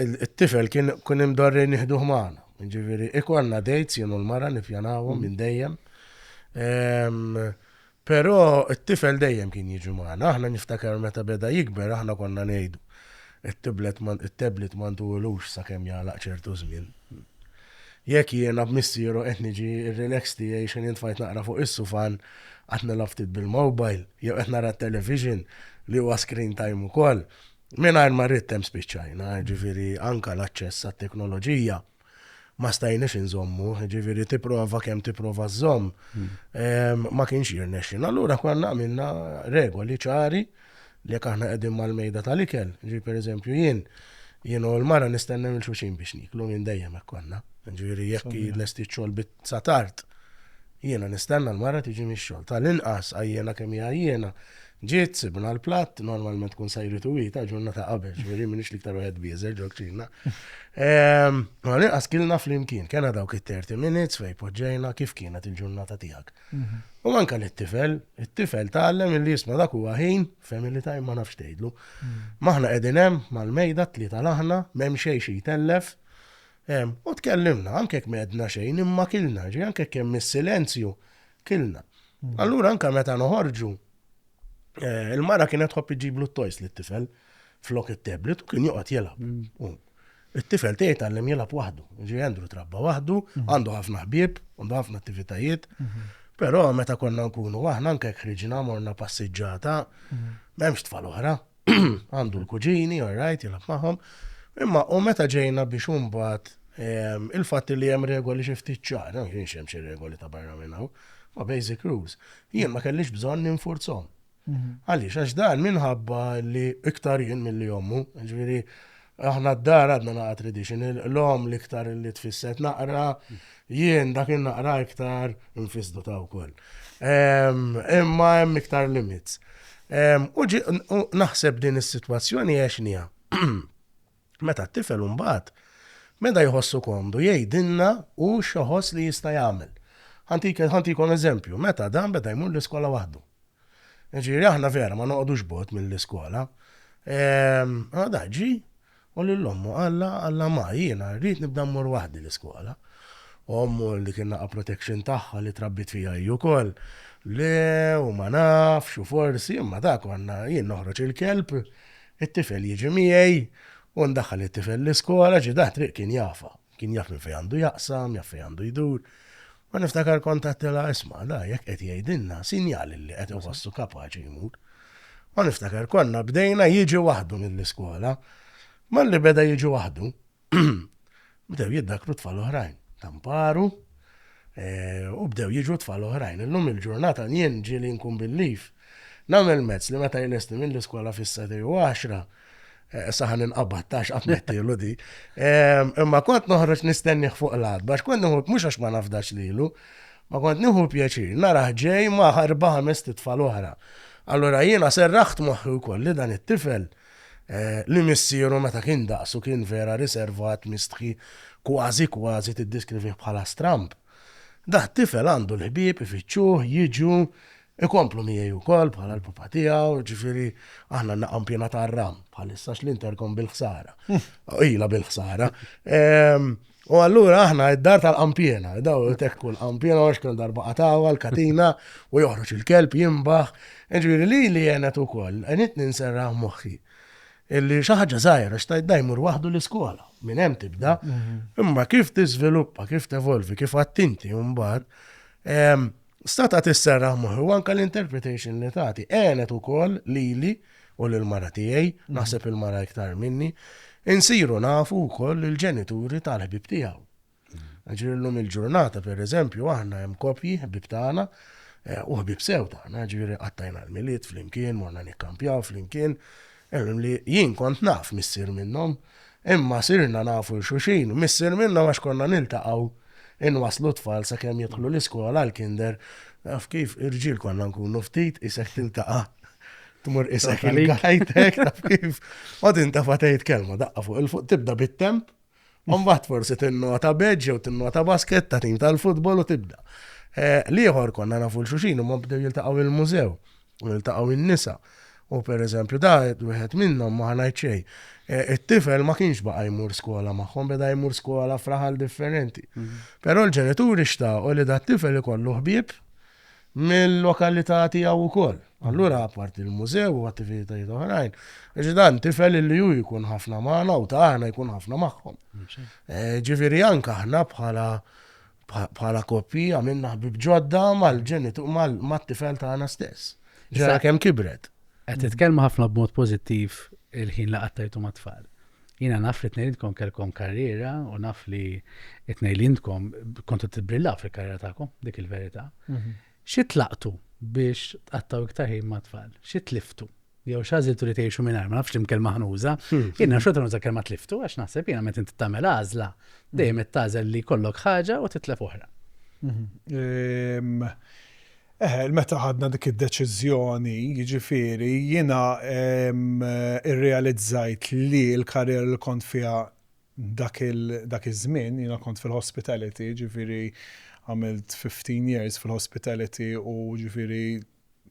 It-tifel kien kun imdorri nieħduh magħna. Ġifieri, ikollna dates jien u l-mara nippjanawhom mm. minn dejjem. Però it-tifel dejjem kien jiġu magħna. Aħna niftakar meta beda jikber aħna konna ngħidu it-tablet ma ntuwilux sakemm jagħlaq ċertu żmien. Jekk jiena b'missieru qed niġi relax tiegħi xejn intfajt naqra fuq is-sufan qed nilgħab ftit bil-mobile jew qed nara t-television li huwa screen time ukoll, Mingħajr ma rrid hemm spiċċajna, ġifieri anka l-aċċess għat-teknoloġija ma stajniex inżommu, ġifieri tipprova kemm tipprova żomm ehm, ma kienx jirnexxin. Allura konna għamilna regoli ċari li jekk aħna qegħdin mal-mejda tal-ikel, ġi pereżempju jien, jien u l-mara nistennew il-xuxin biex niklu minn dejjem hekk konna. Ġifieri jekk lesti ċol bit Sa tard. Jiena nistenna l-mara tiġi mix-xogħol. Tal-inqas, għajjiena kemm hi għajjiena, ġiet, sibna l-platt, normalment tkun sajritu hi ta' ġurnata qabel, ġifieri m'iniex l-iktar wieħed bieżel ġol-kċina. Ehm, tal-inqas kilna flimkien, kellna dawk it-30 minutes fejn poġġejna kif kienet il-ġurnata tiegħek. Mhm. U manka li t-tifel, it-tifel tgħallem illi jisma' dak huwa ħin, family time ma nafx tgħidlu. Mhm. Maħna qegħdin hemm mal-mejda t-tlieta l-aħna, m'hemm xejn xi jtellef, Hemm, u tkellimna, anke jekk m'għedna xejn, imma kilna, ġifieri anke jekk hemm is-silenzju, kilna. Allura anke meta noħorġu, eh, il-mara kienet tħobb iġiblu t-toys lit-tifel flok it-tablet u kien joqgħod jilgħab. Mm. It-tifel tiegħi tgħallem jilgħab waħdu. Ġi Andrew trabba waħdu, mhm. għandu ħafna ħbieb, għandu ħafna attivitajiet. Mhm. Però meta konna nkunu aħna anke ħriġna morna passiġġata, mhm. m'hemmx tfal oħra. għandu l-kuġini, all right, jilab maħom. Imma u meta ġejna biex umbat ehm, il-fatti li hemm regoli xi ftit ċar, ma kienx hemm xi regoli ta' barra minn hawn, ma basic rules. Jien ma kellix bżonn ninfurzhom. Mhm. Għaliex għax dan minħabba li iktar jien mill-li jommu, ġifieri Aħna d-dar għadna naqra traditional, l-omm l-iktar li tfisset naqra, jien dak in-naqra iktar nfisdu ta' wkoll. Imma hemm iktar limits. U naħseb din is-sitwazzjoni għax nija. Meta t-tifel mbagħad, meta jħossu komdu jgħidilna u xoħos li jista' jagħmel. Ħantikom eżempju, meta dan beda jmur l-iskola waħdu. Ġifieri aħna vera ma noqogħdux bogħod mill-iskola. Ehm, għada ġi u lil ommu qalla qalla ma jiena rrid nibda mmur waħdi l-iskola. Ommu li kien naqa' protection tagħha li trabbit fija hi wkoll. Le, u ma nafx, u forsi, imma ta' konna jien noħroġ il-kelb, it-tifel jiġi miegħi, u ndaħħal it-tifel l-iskola, ġi da triq kien jafa. Kien jaf minn fejn għandu jaqsam, jaf fejn għandu jdur. Ma niftakar kont għattela isma' da jekk qed jgħidilna sinjal li qed iħossu kapaċi jmur. Ma niftakar konna bdejna jiġi waħdu mill-iskola. Malli beda jiġi waħdu, bdew jiddakru tfal oħrajn, tamparu, eh, u bdew jiġu tfal oħrajn. Illum il-ġurnata jien ġieli nkun bil-lif. Namel mezz li meta jlesti mill-iskola fis-sati u għaxra, Eh, saħan inqabad, tax għatmettilu di. Ehm, imma kont noħroġ nistenniħ fuq l-għad, bax kont nħu mux għax ma nafdax lilu, ma kont nħu pjaċir, naraħ ġej ma ħarba ħames titfal oħra. Allora jiena serraħt moħħi wkoll li dan it-tifel eh, li missieru meta kien daqsu kien vera riservat mistħi kważi kważi tiddiskrivih bħala stramp. Da tifel għandu l-ħbib ifittxuh, jiġu, Ikomplu miegħi wkoll bħala l-Papa tiegħu, jiġifieri aħna n-naqam piena tar-ram bħalissa x'l-Intercom bil-ħsara. Ilha bil-ħsara. Ehm, U allura aħna id-dar tal-qampjena, daw tekku l-qampjena għax kell darba qatawa l-katina u joħroġ il-kelb jimbaħ. Ġviri li li jenet u koll, għenit ninserra moħħi. Illi xaħġa zaħir, għax tajt dajmur wahdu l-iskola, minn hemm tibda. Mhm. Imma kif tiżviluppa, kif tevolvi, kif attinti mbagħad, Stata tisserraħ moħħi u anke l-interpretation li tagħti għenet ukoll lili u lill-mara tiegħi, naħseb il-mara iktar minni, insiru nafu wkoll lill-ġenituri tal-ħbieb tiegħu. Ġifieri llum il-ġurnata pereżempju aħna hemm koppji ħbieb tagħna eh, u ħbieb sew tagħna, ġifieri qattajna l-milied flimkien, morna nikkampjaw flimkien, Li jien kont naf missier minnhom, imma sirna nafu 'l xulxin, missier minnhom għax konna niltaqgħu inwasslu t-tfal sakemm jidħlu l-iskola, l-kinder, taf kif, irġiel konna nkunu ftit, qisek tiltaqa' tmur qisek il-għajtek, taf kif, qgħod intefa' tgħid kelma, daqqa fuq 'il fuq, tibda bit-temp, Mbagħad forsi tinnota beġ jew tinnota basket ta' tim tal-futbol u tibda. Eh, Liħor konna nafu l-xuxin u ma bdew jiltaqgħu il-mużew u jiltaqgħu in-nisa. U per eżempju da wieħed minnhom ma ħanajt xejn. Eh, it-tifel ma kienx baqa' jmur skola magħhom, beda jmur skola fraħal differenti. Mhm. Però l-ġenituri xtaqgħu li da tifel ikollu ħbieb mill-lokalità tiegħu wkoll. Allura apparti l-mużew u attivitajiet oħrajn, għax dan tifel li hu jkun ħafna magħna u ta' aħna jkun ħafna magħhom. Ġifieri anke aħna bħala bħala koppji għamilna ħbib ġodda mal-ġenitur mat-tifel tagħna stess. Ġara kemm kibret. Qed titkellmu ħafna b'mod pożittiv il-ħin li qattajtu mat-tfal. Jiena naf li t-tnejn intkom kellkom karriera u naf li t-tnejn intkom kontu tibbrillaw fil-karriera tagħkom, dik il-verità. Mhm. Xi tlaqtu biex tqattaw iktar ħin ma' tfal? Xi tliftu? jew xażiltu li tgħixu minn ma nafx imkel maħnuża. Hmm. Jiena xorta nuża kelma tliftu għax naħseb jiena meta inti tagħmel għażla dejjem qed tażel li kollok ħaġa u titlef oħra. Hmm. Ehm, Eħe, meta ħadna dik id-deċiżjoni, jiġifieri, jiena rrealizzajt li l-karriera li kont fiha dak iż-żmien, jiena kont fil-hospitality, jiġifieri għamilt fifteen years fil-hospitality u jiġifieri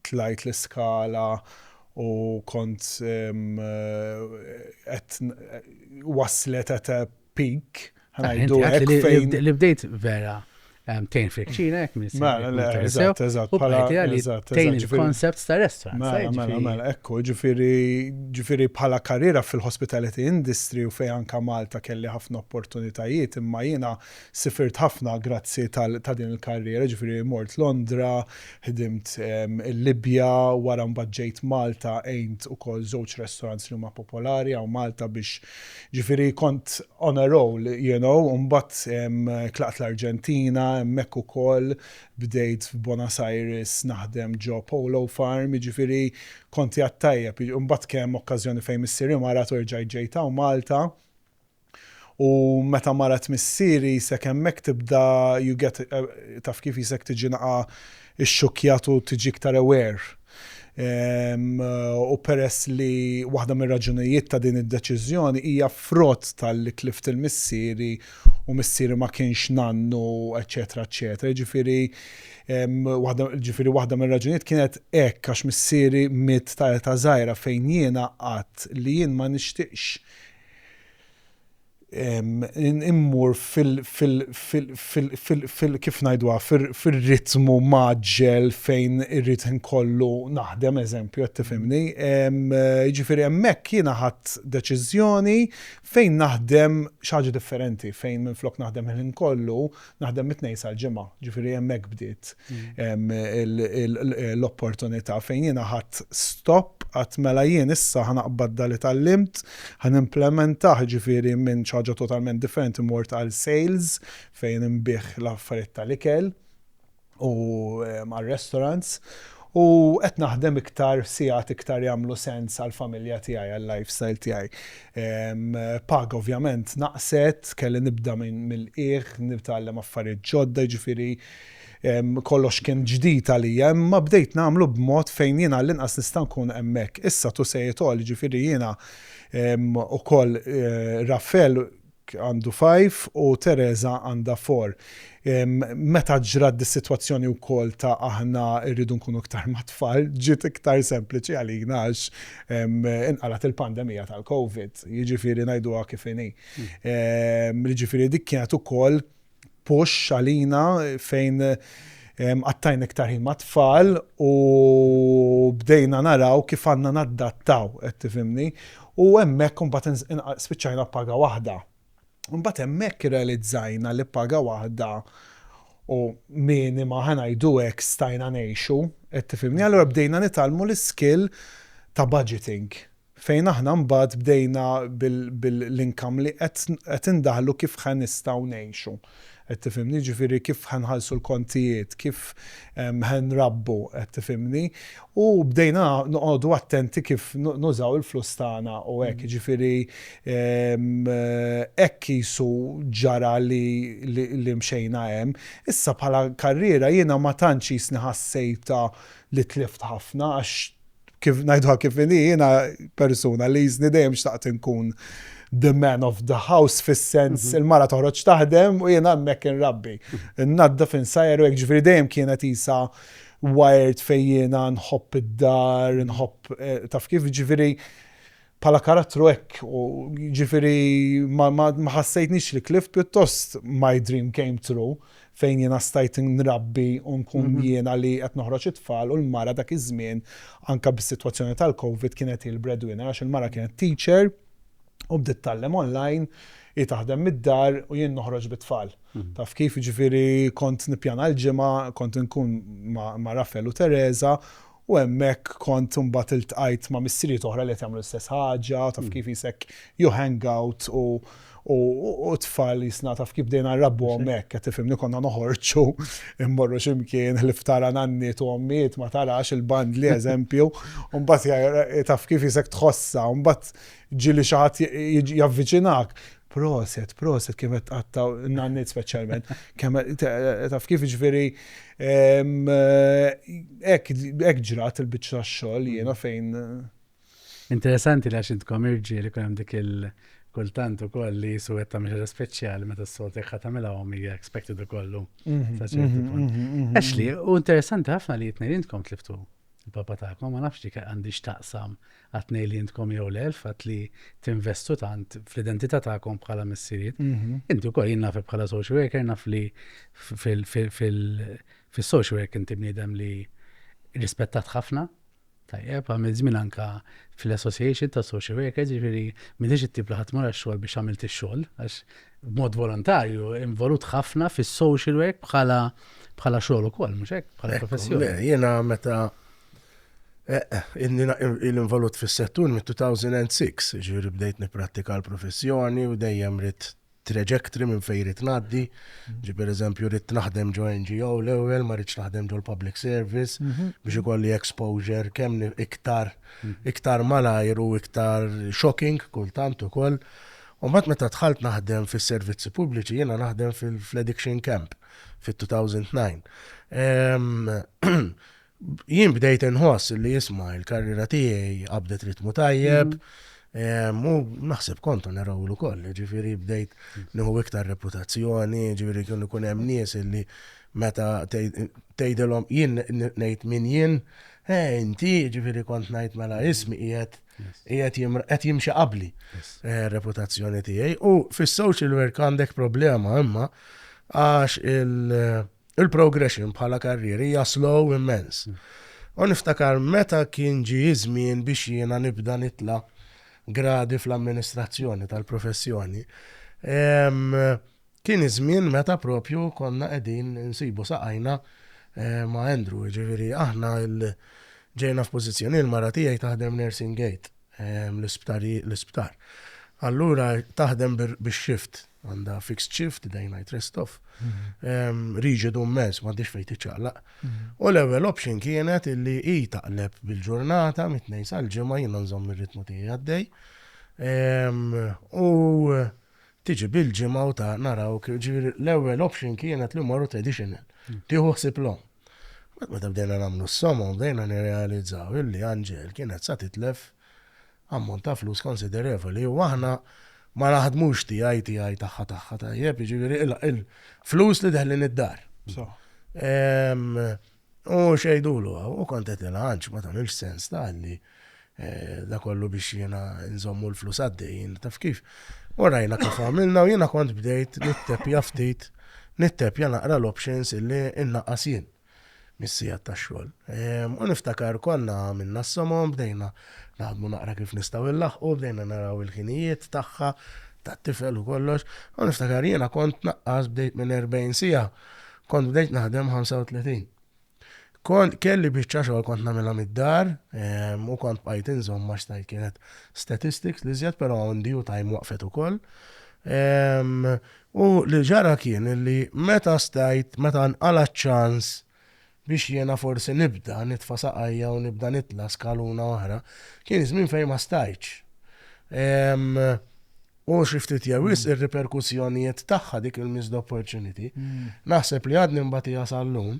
tlajt l-iskala u kont qed waslet at a pink, ħanajdu hekk Li bdejt vera tejn frikċina, jek minn Mela, le, eżatt, eżatt, bħala li tejn il-concept ta' restaurant. Mela, mela, mela, ekku, ġifiri, ġifiri bħala karriera fil-hospitality industry u fej anka Malta kelli ħafna opportunitajiet, imma jiena sifirt ħafna grazzi ta' din il-karriera, ġifiri mort Londra, ħdimt il-Libja, wara mbagħad ġejt Malta għejnt ukoll żewġ restaurants li huma popolari għaw Malta biex Ġifieri kont on a roll you know u mbagħad tlaqt l-Arġentina, hemmhekk ukoll bdejt f'Buenos Aires naħdem ġo Polo Farm, jiġifieri kont qiegħed tajjeb. U mbagħad kien hemm okkażjoni fejn missieri marat u rġajt ġejt hawn Malta u meta marat missieri jisek hemmhekk tibda you get taf kif jisek tiġi naqa' ixxukkjat u tiġi iktar aware u peress li waħda mir-raġunijiet ta' din id-deċiżjoni hija frott talli tlift il-missieri u missieri ma kienx nannu eċċetera eċċetera jiġifieri waħda jiġifieri waħda mir-raġunijiet kienet hekk għax missieri miet ta' età żgħira fejn jiena għadt li jien ma nixtieqx immur kif ngħiduha fir-ritmu mgħaġġel fejn irrid ħin kollu naħdem eżempju qed tifhimni. Jiġifieri hemmhekk jiena ħadt deċiżjoni fejn naħdem xi ħaġa differenti fejn minflok naħdem il-ħin kollu Naħdem mit-Tnejn sal-Ġimgħa, ġifieri hemmhekk bdiet l-opportunità fejn jiena ħadt stop, għedt mela jien issa ħa naqbad dak li tgħallimt, ħa nimplimentah, ġifieri minn xi ħaġa totalment differenti mort għal sales fejn inbigħ l-affarijiet tal-ikel. u għar-restaurants u qed naħdem iktar sigħat iktar jagħmlu sens għall-familja tiegħi, għal-lifestyle tiegħi. Paga ovvjament naqset, kelli nibda mill-qiegħ, nitgħallem affarijiet ġodda, jiġifieri kollox kien ġdid għalija, imma bdejt nagħmlu b'mod fejn jiena għall-inqas nista' nkun hemmhekk. Issa to say it all, jiġifieri jiena wkoll Rafael għandu five u Teresa għandha four. Meta ġrat dis-sitwazzjoni wkoll ta' aħna rridu nkunu iktar mat-tfal, ġiet iktar sempliċi għalina għax inqalgħet il-pandemija tal-Covid, jiġifieri ngħiduha kif inhi. Jiġifieri dik kienet ukoll push għalina fejn qattajna iktar ħin mat-tfal u bdejna naraw kif għandna naddattaw, qed tifhimni, u hemmhekk imbagħad spiċċajna b'paga waħda. Imbagħad hemmhekk irrealizzajna li paga waħda u minima ħa ngħidu hekk stajna ngħixu, qed tifhimni. Allura bdejna nitgħallmu l-iskill ta' budgeting. Fejn aħna mbagħad bdejna bil-income li qed indaħħlu kif ħa nistgħu ngħixu. Qed tifhimni? Jiġifieri kif ħa nħallsu l-kontijiet, kif ħa nrabbu, qed tifhimni? U bdejna noqogħdu attenti kif nużaw il-flus tagħna u hekk. Jiġifieri hekk qisu ġara li mxejna hemm. Issa bħala karriera jiena ma tantx qisni ħassejtha li tlift ħafna għax kif ngħidha kif inhi jiena persuna li jiżni dejjem xtaqt inkun the man of the house fis-sens mhm. il-mara toħroġ taħdem u jiena hemmhekk inrabbi. Mhm. Nadda fin sajer u hekk ġifieri dejjem kienet isa wired fejn jiena nħobb id-dar, mhm. nħobb eh, taf kif ġifieri bħala karattru hekk u jiġifieri ma ħassejtnix li tlift pjuttost my dream came true fejn jiena stajt nrabbi u nkun mhm. jiena li qed noħroġ it-tfal u l-mara dak iż-żmien anke bis-sitwazzjoni tal-COVID kienet il breadwinner għax il-mara kienet teacher u bdiet tallem online i taħdem mid-dar u jien noħroġ bit-tfal. Mhm. Taf kif ġifiri kont nipjana l-ġimgħa, kont nkun ma' Raffel u Teresa u hemmhekk kont imbagħad iltqajt ma' missirijiet oħra li qed jagħmlu l-istess ħaġa, taf kif qisek you hang out u u t-tfal qisna taf kif bdejna nrabbuhom hekk, qed tifhimni, konna noħorġu mmorru xi mkien, ħlief tara nanniet u ommijiet ma tarax, il-bandli eżempju, u mbagħad taf kif qisek tħossha, u mbagħad ġieli xi ħadd javviċinak, proset, proset kemm qed tqatta' n-nanniet speċjalment, kemm taf kif jiġifieri, Hekk ġrat il-biċċa tax-xogħol jiena fejn. Interessanti li għax intkom irġiel ikun hemm dik il- kultant ukoll li jisu qed tagħmel ħaġa speċjali meta s-soltu jekk ħadd tagħmilha hom hija expected ukoll mhm, mhm, mhm, Ashley, u interessanti ħafna li jitnejn intkom tliftu Il-papa tagħkom, ma nafx dik għandhiex taqsam għat-tnejn li intkom jew le, il-fatt li tinvestu tant fl-identità tagħkom bħala missirijiet. Mhm. Inti wkoll jien nafek bħala social worker naf li fil-social work inti bniedem li rispettat ħafna Tajjeb, għamil żmien anka fil-Association ta' Social Workers, ġifiri, minix it-tip li ħatmur għax-xogħol biex għamilt ix-xogħol, għax b'mod volontarju involut ħafna fis-social work bħala bħala xogħol ukoll, mhux hekk, bħala professjoni. Jiena meta eh, eh, il-involut fis-settur mit-2006, ġifieri bdejt nipprattika l-professjoni u dejjem rid trajectory minn fejn rid ngħaddi. Mhm. Ġi pereżempju rid naħdem ġo NGO l-ewwel, ma rridx naħdem ġo l-public service mhm. biex ikolli exposure kemm iktar mhm. iktar malajr u iktar shocking kultant ukoll. U mbagħad meta dħalt naħdem fis-servizzi pubbliċi jiena naħdem fl-addiction camp fit-2009. Jien bdejt inħoss li jisma' l-karriera tiegħi qabdet ritmu tajjeb, u naħseb kont on a roll ukoll, ġifieri bdejt nieħu iktar reputazzjoni, ġifieri kienu jkun hemm nies li meta tgħidilhom jien ngħid min jien, eh inti, ġifieri kont ngħid mela ismi qiegħed Qed jimxi qabli eh, reputazzjoni tiegħi u fis-social work għandek problema imma għax eh, il-progression bħala karrieri hija slow immens. Mm. U niftakar meta kien ġi żmien biex jiena nibda nitla gradi fl-amministrazzjoni tal-professjoni. Kien iż-żmien meta propju konna qegħdin insibu saqajna ma' Andrew, jiġifieri aħna ġejna f'pożizzjoni li l-mara tiegħi taħdem nursing aid l-isptar. Allura taħdem bix-shift, għandha fixed shift, day night rest off, riġidu mmens, m'għandhiex fejn tiċċaqlaq. U l-ewwel option kienet li hi taqleb bil-ġurnata mit-Tnejn sal-Ġimgħa jiena nżomm ir-ritmu tiegħi għaddej. U Tiġi bil-ġimgħa u ta' narawk, ġifieri l-ewwel option kienet li mmorru traditional, tieħu ħsieb l-omm. Mbagħad meta bdejna nagħmlu s-somom bdejna nirrealizzaw illi Anġel kienet sa titlef ammont ta' flus konsiderevoli u aħna ma naħdmux tiegħi tiegħi tagħha tagħha tajjeb, jiġifieri il-flus li deħlin id-dar. U xejdulu, u kont qed nilgħanx, ma tagħmilx sens tagħha li da kollu biex jiena nżommu l-flus għaddejjin, taf kif. U rajna kif għamilna u jiena kont bdejt nitteppja ftit, nitteppja naqra l-options illi nnaqqas jien mis-sigħat tax-xogħol. U niftakar konna għamilna s-somom, bdejna naħdmu naqra kif nistgħu nlaħħqu, bdejna naraw il-ħinijiet tagħha, tat-tifel u kollox, u niftakar jiena kont naqqas bdejt minn 40 siegħa, Kont bdejt naħdem 35. Kont kelli biċċa xogħol kont nagħmilha mid-dar u kont bqajt inżomm għax tajt kienet statistics l-iżjed però on due time waqfet ukoll. U li ġara kien illi meta stajt, meta nqala' ċ-ċans biex jiena forsi nibda nitfa' saqajja u nibda nitla' skaluna oħra, kien żmien fejn ma stajtx. U xi ftit jew wisq ir-riperkussjonijiet tagħha dik il-missed opportunity. Naħseb li għadni nbatiha sal-lum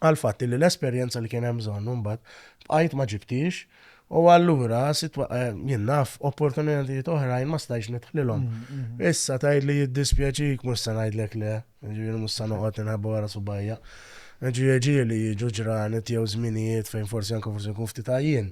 għall-fatt li l-esperjenza li kien hemm bżonn mbagħad bqajt ma ġibtix u allura eh, jien naf opportunitajiet oħrajn ma stajx nidħlilhom. Mm, mm, mm. Issa tgħid li jiddispjaċik mhux se ngħidlek le, ġifieri mhux se noqgħod inħabba wara subajja. Ġieli jiġu ġranet jew żminijiet fejn forsi anke forsi nkun ftit għajjien.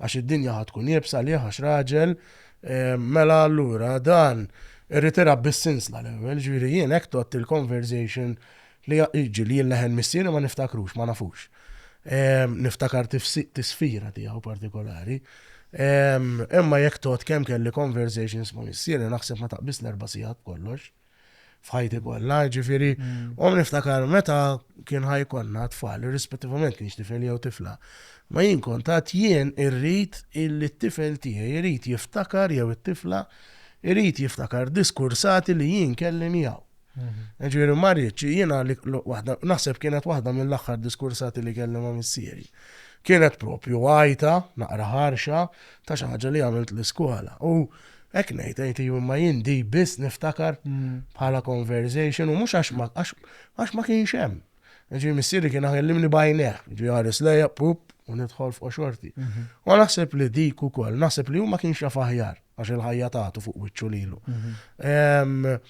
għax id-dinja ħa tkun iebsa għalih għax raġel, mela allura dan irrid irab bis-sinsla l-ewwel, ġifieri jien hekk tgħodd il-conversation li jiġri li jien leħen missieri ma niftakrux, ma nafux. Niftakar tisfira tiegħu partikolari. Imma jekk tgħodd kemm kelli conversations ma' missieri naħseb ma taqbiż l-erba' sigħat b'kollox. f'ħajti kollha, ġifieri, u niftakar meta kien ħajkonna tfal, irrispettivament kienx tifel jew tifla. Ma jien kont għad jien irrid illi t-tifel tiegħi jrid jiftakar jew it-tifla jrid jiftakar diskursati li jien kelli miegħu. Mhm. Ġifieri ma rridx jiena li waħda naħseb kienet waħda mill-aħħar diskursati li kelli ma' missieri. Kienet propju għajta, naqra ħarxa, ta' xi ħaġa li għamilt l-iskola. U Hekk ngħid, ngħid iva, imma jien di biss niftakar bħala conversation u mhux għax ma għax ma kienx hemm. Ġi missieri kien għallimni bajneħ, ġi għares lejja, pup, u nidħol fuq xorti. Mhm. U naħseb li dik ukoll, naħseb li huma kienx jaf aħjar għax il-ħajja tagħtu fuq wiċċu lilu. Mhm.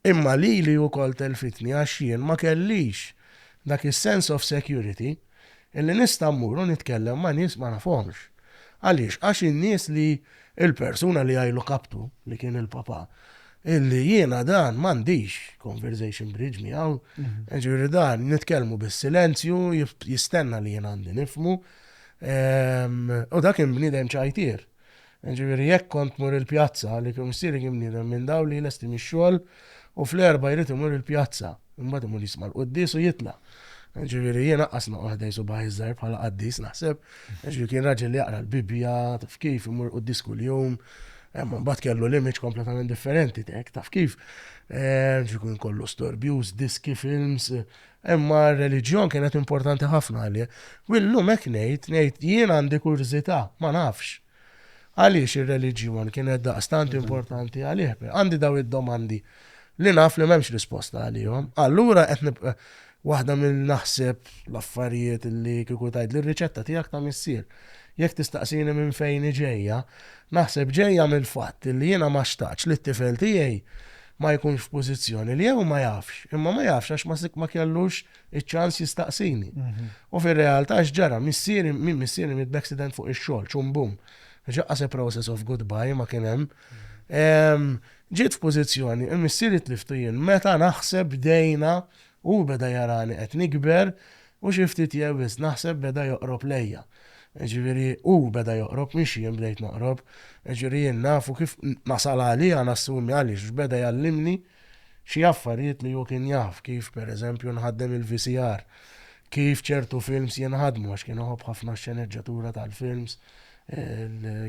Imma lili wkoll telfitni għax jien ma kellix dak is-sense of security illi nista' mmur u nitkellem ma' nies ma nafhomx. Għaliex? Għax in-nies li, il-persuna li jgħilu kaptu, li kien il-Papa, illi jiena dan m'għandix conversation bridge miegħu, jiġifieri dan nitkellmu bis-silenzju, jistenna li jien għandi nifhmu. U dak kien bniedem ċajtier. Jiġifieri jekk kont tmur il-pjazza għaliex missieri kien bniedem minn dawn li jlesti mix-xogħol u fl-Erbgħa jrid imur il-pjazza, imbagħad imur jisma' l-quddies u jitla'. Jiġifieri jien anqas noqgħod ħdejn subgħajj iż-żgħir bħala qaddis naħseb. Jiġifieri kien raġel li jaqra l-Bibbja, taf kif, imur quddies kuljum. Imma imbagħad kellu l-image kompletament differenti, taf kif. Jiġifieri kien kollu storbjuż, diski, films, Imma r-reliġjon kienet importanti ħafna għalih. U llum hekk ngħid, ngħid jien għandi kurżità, ma nafx. Għaliex ir-reliġjon kienet daqstant importanti għalih? Għandi dawn id-domandi li naf li m'hemmx risposta għalihom. Allura qed nib waħda mill naħseb l-affarijiet li kieku tgħidli r-riċetta tiegħek ta' missier. Jekk tistaqsini minn fejn hi ġejja, naħseb ġejja mill-fatt li jiena ma xtaqtx li t-tifel tiegħi ma jkunx f'pożizzjoni li jew ma jafx, imma ma jafx għax ma ma kellux iċ-ċans jistaqsini. U fir-realtà x'ġara? Missieri, min missieri miet b'accident fuq ix-xogħol, ċum bum. Ġaqqas a process of goodbye ma kien hemm. Ġiet f'pożizzjoni, il-missieri tliftu jien meta naħseb bdejna Hu beda jara li qed nikber u xi ftit jew wisq naħseb beda joqrob lejja. Jiġifieri hu beda joqrob mhix jien bdejt noqrob. Jiġifieri jien naf u kif nasal għalija nassumi għaliex x'beda jgħallimni xi affarijiet li hu kien jaf kif per eżempju nħaddem il-VCR, kif ċertu films jinħadmu għax kien iħobb ħafna x-xeneġġatura tal-films,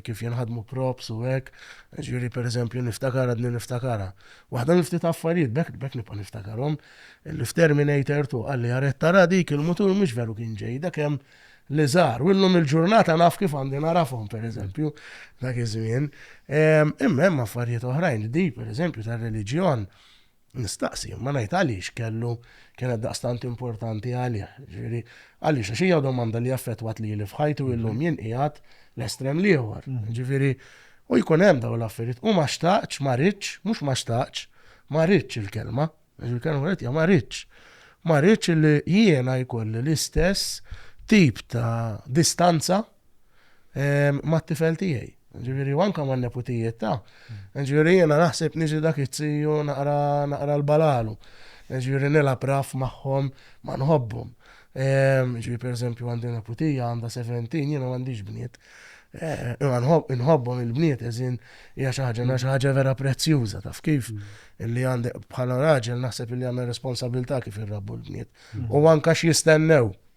kif jinħadmu props u hekk, ġifieri pereżempju niftakar għadni niftakarha. Waħda minn ftit affarijiet, b'hekk nibqa' niftakarhom, li f'Terminator Two qalli aret tara dik il-mutur mhux veru kien ġejda kemm li żgħar u llum il-ġurnata naf kif għandi nagħrafhom pereżempju dak iż-żmien. Imma hemm affarijiet oħrajn, din pereżempju tar-reliġjon, Nistaqsi, imma ngħid għaliex kellu kienet daqstant importanti għalih. Ġifieri, għaliex għax hija domanda li affettwat lili f'ħajti u illum jien qiegħed l-estrem l-ieħor. Ġifieri, u jkun hemm dawn l-affarijiet. U ma xtaqtx, ma ridtx, mhux ma xtaqtx, ma ridtx il-kelma, għax il-kelma kienet hija ma ridtx. Ma ridtx li jiena jkolli l-istess tip ta' distanza mat-tifel tiegħi. Ġifieri u anke man-neputijiet ta'. Ġifieri jiena naħseb niġi dak it-tiju naqra naqra l-balalu. Ġifieri nilgħab raff magħhom ma nħobbhom. Ġifieri pereżempju għandi neputija għandha 17 jiena m'għandix bniet. Imma nħobbhom il-bniet eżin hija xi ħaġa xi ħaġa vera prezzjuża taf kif illi għandek bħala raġel naħseb illi għandna responsabilità kif irrabbu l-bniet. U anke x'jistennew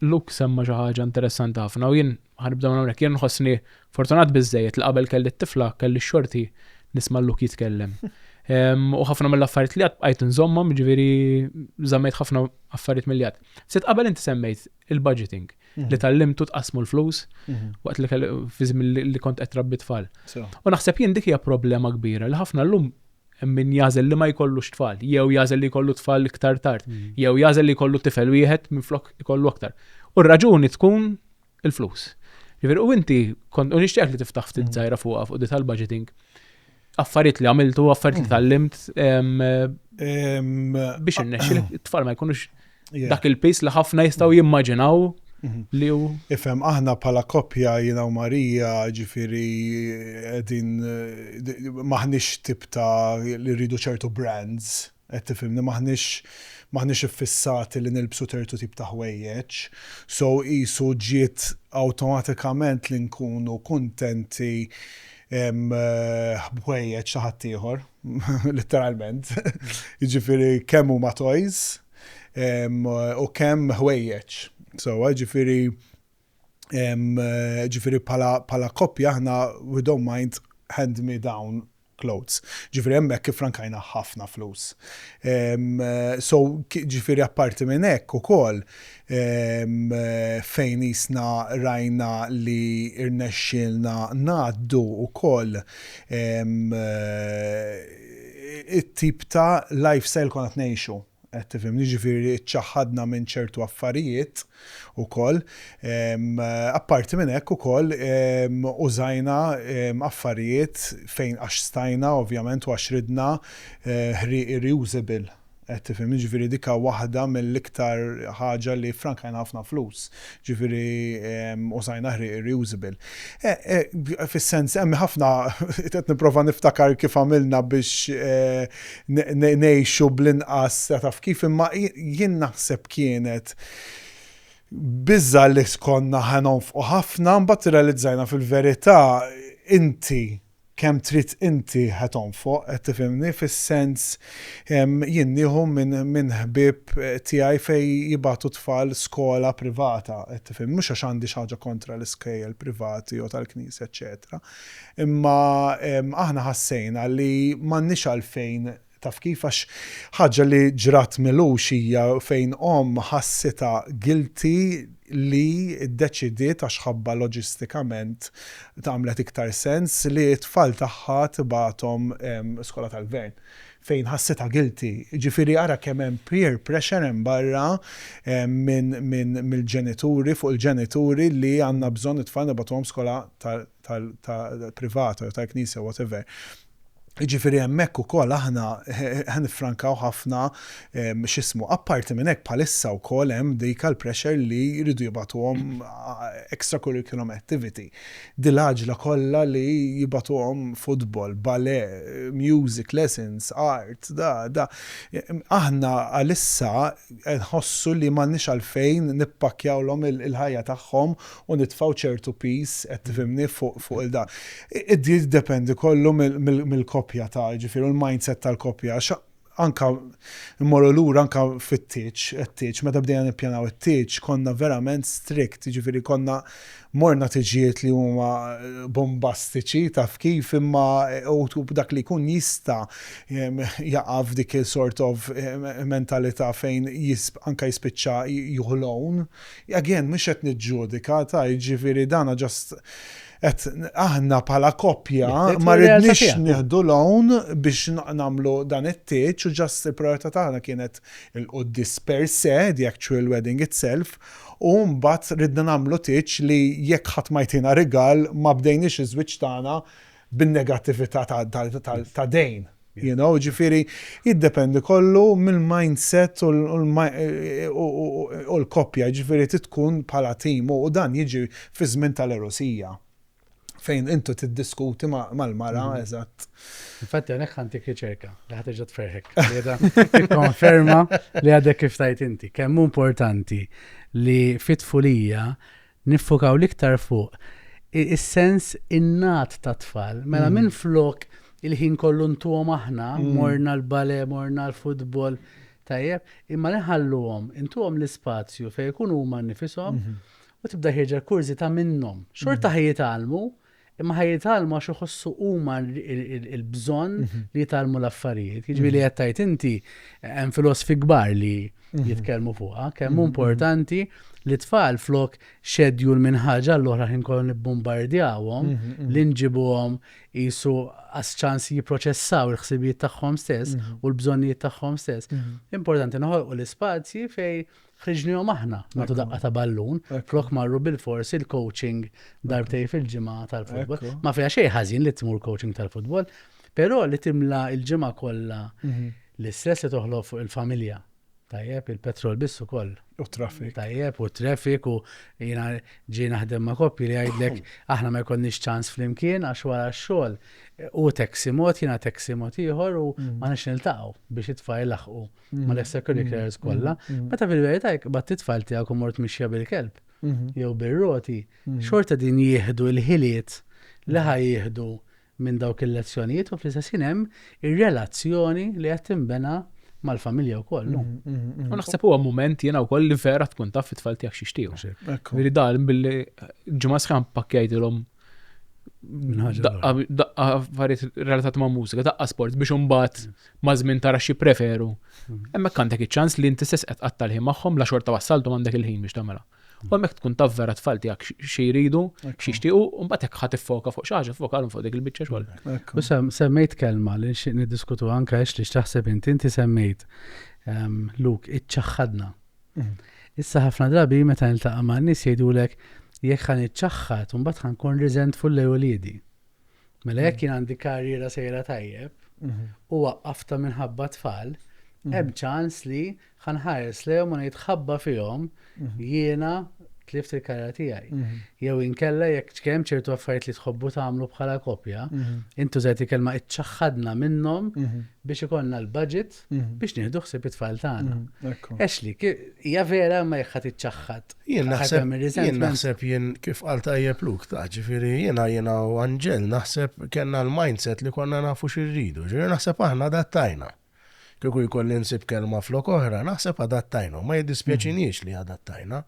Luke semma xi ħaġa interessanti ħafna u jien ħa nibda minn hawnhekk. Jien nħossni fortunat biżżejjed li qabel kelli t-tifla kelli x-xorti nisma' Luke jitkellem. U ħafna mill-affarijiet li għad bqajt nżommhom, jiġifieri żammejt ħafna affarijiet milli għad. Ftit qabel inti semmejt il-budgeting li tgħallimtu tqassmu l-flus waqt li fi żmien li kont qed trabbi tfal. U naħseb jien dik hija problema kbira li ħafna llum Hemm min jagħżel li ma jkollux tfal, jew jagħżel li jkollu tfal iktar tard, jew jagħżel li jkollu tifel wieħed minflok ikollu aktar. U r-raġuni tkun il-flus. Jiġifieri u inti kont u nixtieqek li tiftaħ ftit żgħira fuqha fuq di tal-budgeting. Affarijiet li għamiltu, affarijiet li tgħallimt biex innexxi t-tfal ma jkunux dak il-piż li ħafna jistgħu mm. jimmaġinaw mhm. li hu. Ifhem aħna bħala koppja jiena u Marija ġifieri qegħdin maħniex tip ta' li rridu ċertu brands qed tifhimni maħniex maħniex iffissati li nilbsu tertu tip ta' ħwejjeġ. So isu ġiet awtomatikament li nkunu kuntenti eh, ħwejjeġ ta' ħaddieħor. Litteralment. Jiġifieri kemm huma toys u kemm ħwejjeġ. Sewwa, jiġifieri jiġifieri bħala koppja aħna we don't mind hand-me-down clothes. Jiġifieri hemmhekk iffrankajna ħafna flus. So jiġifieri apparti minn hekk ukoll fejn qisna rajna li rnexxielna ngħaddu wkoll it-tip ta' lifestyle li konna qed ngħixu, qed tifhimni, jiġifieri ċċaħħadna minn ċertu affarijiet ukoll. Apparti minn hekk ukoll użajna affarijiet fejn għax stajna ovvjament u għax ridna ħrieqi reusable. Qed tifhimni? Ġifieri dik waħda mill-iktar ħaġa li ffrankajna ħafna flus. Ġifieri użajna ħrieq ir-reusable. Fis-sens, hemm ħafna, qed nipprova niftakar kif għamilna biex ngħixu bl-inqas taf kif, imma jien naħseb kienet biża' li konna ħa nonfqu ħafna, imbagħad irrealizzajna fil-verità inti, kemm trid inti ħa tonfoq, qed tifhimni, fis-sens jien nieħu minn ħbieb tiegħi fejn jibgħatu t-tfal skola privata, qed tifhimni, mhux għax għandi xi ħaġa kontra l-iskejjel privati jew tal-Knisja eċċetera, imma aħna ħassejna li m'għandniex għalfejn Taf kif? Għax ħaġa li ġrat m'ilux hija fejn omm ħassitha guilty li ddeċidiet għax ħabbha loġistikament għamlet iktar sens li t-tfal tagħha tibgħathom skola tal-gvern. Fejn ħassitha guilty. Jiġifieri ara kemm hemm peer pressure hemm barra mill-ġenituri fuq il-ġenituri li għandna bżonn it-tfal nibgħatuhom skola ta' tal-privata jew tal-Knisja whatever. Jiġifieri hemmhekk ukoll aħna ħa niffrankaw ħafna x'ismu. Apparti minn hekk bħalissa wkoll hemm dik għall-pressure li jridu jibgħatuhom extra curriculum activity. Dil-għaġla kollha li jibgħatuhom football, ballet, music lessons, art, da, da. Aħna għalissa nħossu li m'għandniex għalfejn nippakkjawlhom il-ħajja tagħhom u nitfgħu ċertu piż, qed tifhimni, fuq fuq il-da. Jiddependi kollu mill-koppja ta' jiġifieri u l-mindset tal-koppja għax anka mmorru lura anka fit-tieġ, it-tieġ, meta bdejna nippjanaw it-tieġ konna verament strict, jiġifieri konna morna tiġijiet li huma bombastiċi taf kif imma u b'dak li jkun jista' jaqa' f'dik il-sort of mentalità fejn anka jispiċċa jieħu loan, Again, mhux qed niġġudika, ta' jiġifieri dan just qed aħna bħala koppja ma ridniex nieħdu loan biex nagħmlu dan it-tieġ u just il-prijorità tagħna kienet il-quddies per se, the actual wedding itself, u mbagħad ridna nagħmlu tieġ li jekk ħadd ma jtina rigal ma bdejniex iż-żwieġ tagħna bin-negattività ta' dejn. You know, jiġifieri jiddependi kollu mill-mindset u l-koppja, jiġifieri trid tkun bħala tim u dan jiġi fiż-żmien tal-għerusija fejn inti tiddiskuti mal-mara, eżatt. Infatti hawnhekk ħa ntik riċerka li ħa terġa' tferrħek qiegħda tikkonferma li għadek kif tgħid inti. Kemm hu importanti li fit-tfulija Niffokaw l-iktar fuq is-sens innat tat-tfal. Mela minflok il-ħin kollu ntuhom aħna, morna l-ballet, morna l-futbol, tajjeb, imma li nħalluhom, intuhom l-ispazju fejn ikunu huma nnifishom u tibda ħierġa l-kurżità minnhom. Xorta ħejjitgħallmu, Imma ħa jitgħallmu għax iħossu huma l-bżonn li jitgħallmu l-affarijiet. Jiġifieri li qed tgħid inti hemm filosfi kbar li jitkellmu fuqha, kemm importanti li tfal flok xedjul minn ħaġa l-oħra ħin kollu nibbombardjawhom li nġibuhom qisu għas ċans jipproċessaw il-ħsibijiet tagħhom stess u l-bżonnijiet tagħhom stess. Importanti noħolqu l-ispazji fejn Ħriġnihom aħna nagħtu daqqa ta' ballun flok marru bil-fors il-coaching darbtej fil-ġimgħa tal-futbol. Ma fiha xejn ħażin li tmur coaching tal-futbol, però li timla l-ġimgħa kollha mhm. l-istress li toħloq fuq il-familja Tajjeb, il-petrol biss ukoll. U traffic. Tajjeb, u traffic, u jina ġi naħdem ma' koppi li għajdlek, aħna ma jkonniex ċans fl-imkien, għax wara xol, u taxi mod, jina taxi mod ieħor, u mm. ma nix niltaqgħu biex it-tfajl laħqu. ma l-extracurriculars mm-hmm. kollha, mm-hmm. meta fil-verità jekk bat titfal tiegħek u mort mixja bil-kelb mm-hmm. jew bir-roti, xorta din jieħdu l-ħiliet li ħaj jieħdu minn dawk il-lezzjonijiet u fl-istess hemm ir-relazzjoni li qed tinbena mal-familja u koll. U naħseb huwa moment jena u koll li vera tkun taf it-tfal tijak xiextiju. Veri dal billi ġimma sħan pakkjajt l-om Daqqa affarijiet relatat ma' mużika, daqqa sport biex imbagħad ma' żmien tara xi preferu. Mm. Hemmhekk għandek iċ-ċans li inti stess qed qatta' l-ħin magħhom la xorta wassaltu għandek il-ħin biex tagħmilha. U hemmhekk tkun taf vera tfal tiegħek xi jridu, xi jixtiequ, u mbagħad hekk ħadd iffoka fuq xi ħaġa, foka fuq dik il-biċċa xogħol. U semmejt kelma li nixtieq niddiskutu anke għax li x'taħseb inti inti semmejt ehm, Luk iċċaħħadna. Issa ħafna drabi meta niltaqa' ma' nies jgħidulek jekk ħa niċċaħħad mbagħad ħa nkun riżentful lej uliedi. Mela jekk jien għandi karriera sejra tajjeb mhm. u waqqafta minħabba tfal, mhm. hemm ċans li ħanħares lejhom u nitħabba fihom mhm. jiena tlift il-karra tiegħi. Mhm. Jew inkella jekk ċkem ċertu affarijiet li tħobbu tagħmlu bħala kopja, mhm. intu żgħid kelma iċċaħħadna minnhom mhm. biex ikollna l-budget Mhm. biex nieħdu ħsieb it-tfal tagħna. Mhm, Ashley, hija vera ma jħat iċċaħħat. Jien naħseb jien naħseb jien kif qal tajjeb luk ta' ġifieri jiena jiena u Anġel naħseb kellna l-mindset li konna nafu xirridu. Ġifieri naħseb aħna adattajna. Kieku jkolli nsib kelma flok oħra, naħseb adattajna. Ma jiddispjaċiniex mhm. li adattajna.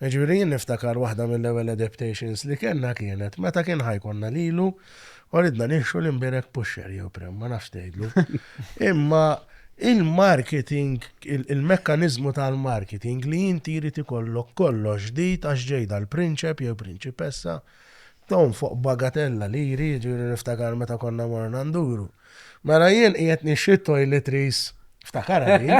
Jiġifieri jien niftakar waħda mill-ewwel adaptations li kellna kienet meta kien ħa jkollna lilu u ridna nixtru l-imbierek pusher jew prem, ma nafx tgħidlu. Imma il-marketing, il-mekkaniżmu tal-marketing li inti jrid ikollok kollox ġdid għax ġej dal-prinċep jew prinċipessa, tonfoq bagatella liri, jiġifieri niftakar meta konna morna nduru. Mela jien qiegħed nixtri t-toiletries, ftakarha din,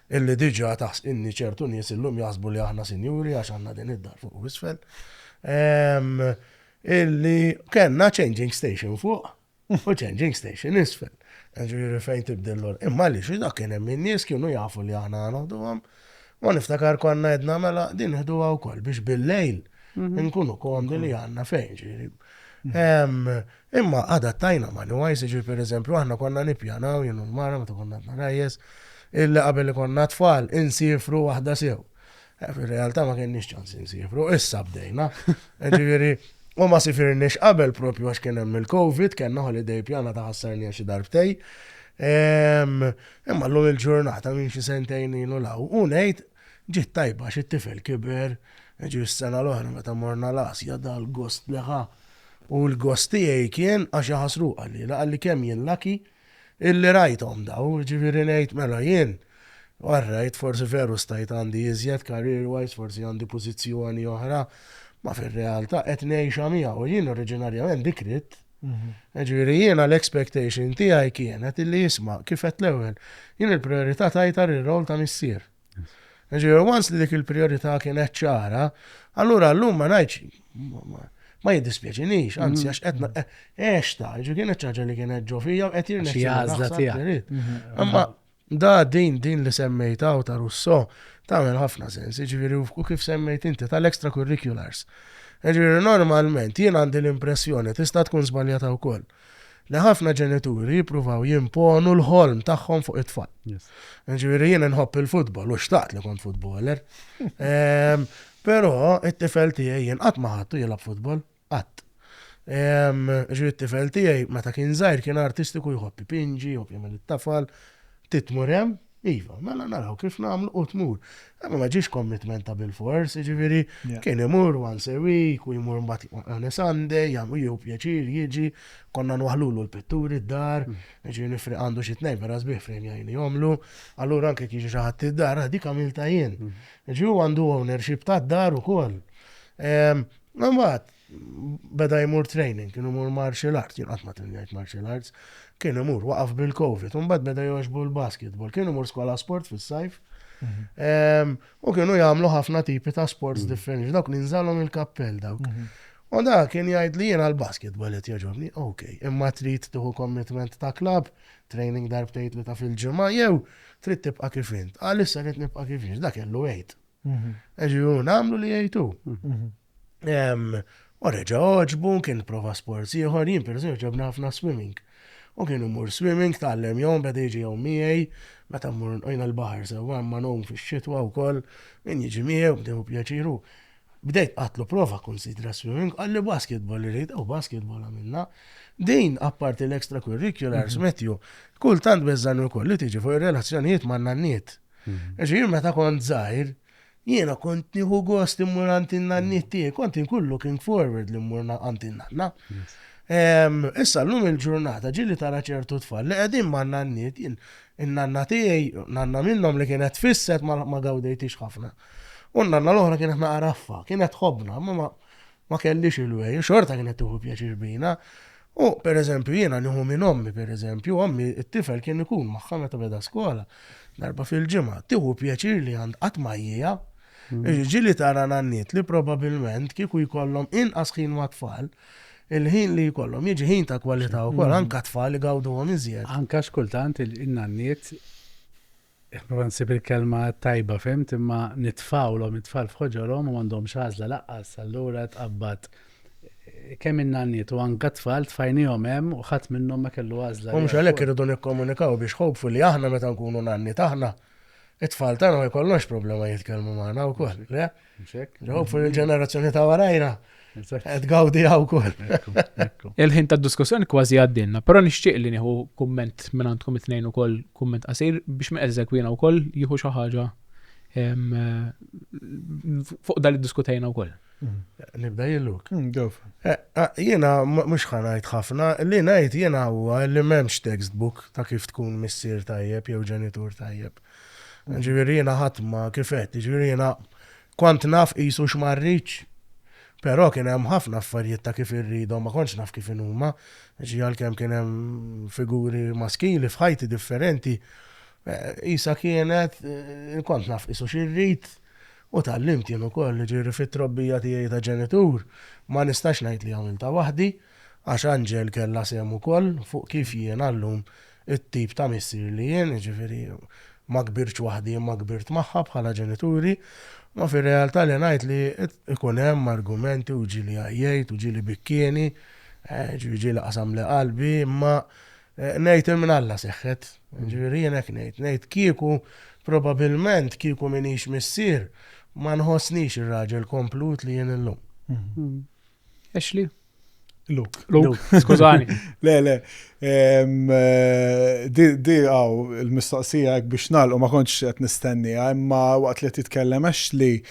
Illi diġà taħs, inni ċertu nies illum jaħsbu li aħna sinjuri għax għandna din id-dar fuq u isfel. Ehm, illi kellna changing station fuq u changing station isfel. Ġifieri fejn tibdel l Imma li xi dak kien hemm in-nies kienu jafu li aħna noħduhom. U niftakar konna edna mela din ħduha wkoll biex bil-lejl mhm. nkunu komdi li għandna fejn ġifieri. Ehm, Imma adattajna mal-UIs, jiġifieri pereżempju aħna konna nippjanaw, jien u l-mara meta konna għadna ragħajjes, illi qabel ikollna t-tfal insiefru waħda sew. Fir-realtà ma kenniex ċans insiefru, issa bdejna. Jiġifieri u ma sifirniex qabel proprju għax kien hemm il-Covid, kellna holiday ippjanata ħassarniha xi darbtejn. Imma llum il-ġurnata minn xi sentejn ilu 'l hawn u ngħid, Ġiet tajba għax it-tifel kiber, ġie s-sena l-oħra meta morna l-Asja da l-gost li ħa u l-gost tiegħi kien għax iħassru qalliela, qalli kemm jien lucky illi rajthom dawn, jiġifieri ngħid mela jien all right forsi veru stajt għandi iżjed career wise forsi għandi pożizzjoni oħra, ma fir-realtà qed ngħixha miegħu, jien oriġinarjament dik ridt. Jiġifieri jiena l-expectation tiegħi kienet illi isma' kif għedt l-ewwel, jien il-prijorità tajtha lir-role ta' missier. Jiġifieri once li dik il-prijorità kienet ċara, allura llum ma ngħidx ma jiddispjaċinix, anzi għax qed għextha, jiġifieri kienet xi ħaġa li kienet ġo fija u qed jirnexxi. Imma Da, din, din li semmejt hawn ta' Russo, tagħmel ħafna sens, jiġifieri u kif semmejt inti tal-extracurriculars. Jiġifieri normalment jien għandi l-impressjoni, tista' tkun żbaljata wkoll, li ħafna ġenituri jippruvaw jimponu l-ħolm tagħhom fuq it-tfal. Jiġifieri jien inħobb il-futbol u xtaqt li kont futboler. Ehm, però it-tifel tiegħi jien qatt ma ħadtu jilgħab futbol. Qatt. Jiġifieri t-tifel tiegħi meta kien żgħir kien artistiku jħobb ipinġi, jħobb jagħmel it-tafal. Trid tmur hemm? Iva. Mela naraw kif nagħmlu u tmur. Imma ma ġiex commitment ta' bilfors, jiġifieri kien imur once a week u jmur mbagħad on a Sunday, jieħu pjaċir jiġi, konna nwaħħlulu l-pitturi d-dar, jiġifieri nifri għandu xi tnejn vera sbieħ fejn jgħinihomlu. Allura anke jekk jiġi xi ħadd id-dar, dik għamiltha jien. Jiġifieri huwa għandu ownership tad-dar ukoll. Mbagħad beda jmur training, kienu mur martial arts, jien qatt ma trinjajt martial arts, kien imur waqaf bil-Covid, mbagħad beda jogħġbu l-basketball, kienu mur skola sport fis-sajf. Mhm. Ehm, u kienu jagħmlu ħafna tipi ta' sports mhm. differenti, dawk li nżalhom il-kappell dawk. Mhm. U da kien jgħid li jiena l-basketball qed jogħġobni, ok, imma trid tuħu commitment ta' klab, training darbtejt li ta' fil-ġimgħa jew trid tibqa' kif int. Għalissa qed nibqa' kif int, dak kellu għid. Ġiru, namlu li jgħid hu. U reġa' oġbu, kien prova sports ieħor, jien per ġobna ħafna swimming. U kien imur swimming, tgħallem jom, beda jiġi jom miegħi, meta mmur nqojna l-baħar sewwa, ma nogħum fix-xitwa wkoll, min jiġi miegħu, bdew pjaċiru. Bdejt qatlu prova kunsidra swimming, qalli basketball irid, u basketball għamilna. Din apparti l-extracurriculars, mhm. Matthew, kultant beżżan ukoll li tiġi fuq ir-relazzjonijiet man-nanniet. Għax jien meta kont żgħir, jiena kont nieħu gost immur għandi n-nanniet tiegħi, kont inkun looking forward li mmur għandi n-nanna. Issa llum il-ġurnata ġili tara ċertu tfal li qegħdin ma' nanniet jien in-nanna tiegħi, nanna minnhom li kienet fisset ma gawdejtix ħafna. U n-nanna l-oħra kienet naqraffa, kienet ħobna, ma Ma kellhiex il-wegħi u xorta kienet tieħu pjaċir bina. U, per eżempju, jiena nieħu minn ommi, per eżempju, ommi t-tifel kien ikun magħha meta beda skola, darba fil-ġimgħa, tieħu pjaċir li għand qatt ma jieha. Mm. Ġili tara nanniet li probabilment kieku jkollhom inqas ħin ma' tfal, il-ħin li jkollhom jiġi ħin ta' kwalità wkoll mm. anka tfal li gawduhom iżjed. Anka xkultant il-nanniet Nipprova nsib il-kelma t-tajba, fhimt, imma nitfgħulhom it-tfal f'ħoġorhom u m'għandhomx għażla laqqas, allura tqabbad. Kemm in-nanniet u anka t-tfal tfajniehom hemm u ħadd minnhom ma kellu għażla. U mhux għalhekk irridu nikkomunikaw biex hopefully aħna meta nkunu nanniet aħna, it-tfal tagħna ma jkollhomx problema jitkellmu magħna wkoll, le? Hopefully il-ġenerazzjoni ta' warajna qed gawdi hawn ukoll. Il-ħin ta' diskussjoni kważi għaddinna, però nixtieq li nieħu kumment minn għandkom it-tnejn ukoll kumment qasir biex ma eżekwina wkoll jieħu xi ħaġa fuq dan iddiskutejna wkoll. Nibda jilluk. Mm, eh, eh, jiena mhux ħanajt ħafna, li ngħid jiena huwa li m'hemmx textbook ta' kif tkun missier tajjeb jew ġenitur tajjeb. Jiġifieri jiena ħadd ma kif għedt, jiġifieri jiena kont naf qisu x'ma rridx, però kien hemm ħafna affarijiet ta' kif irridhom ma kontx naf kif inhuma, ġie għalkemm kien hemm figuri maskili f'ħajti differenti, qisha kienet kont naf qisu xi rrid u tgħallimt jien ukoll, jiġifieri fit-trobbija tiegħi ta' ġenitur ma nistax ngħid li għamiltha waħdi, Għax Angel kellha sehem ukoll fuq kif jiena llum it-tip ta' missier li jien, jiġifieri ma kbirtx waħdi imma kbirt magħha bħala ġenituri, ma fir-realtà li ngħid li jkun hemm argumenti u ġieli għajjejt u ġieli bikkieni, jiġifieri ġieli qasamli qalbi, imma ngħid il-mnalla seħħet, jiġifieri jien hekk ngħid, ngħid kieku probabilment kieku m'iniex missier ma nħossnix ir-raġel komplut li jien illum. Ashley? Luke. Luke, skużani. le, le. Eh, di għaw il-mistoqsija biex nalqu ma konċ qed nistenni, imma waqt li titkellem Ashley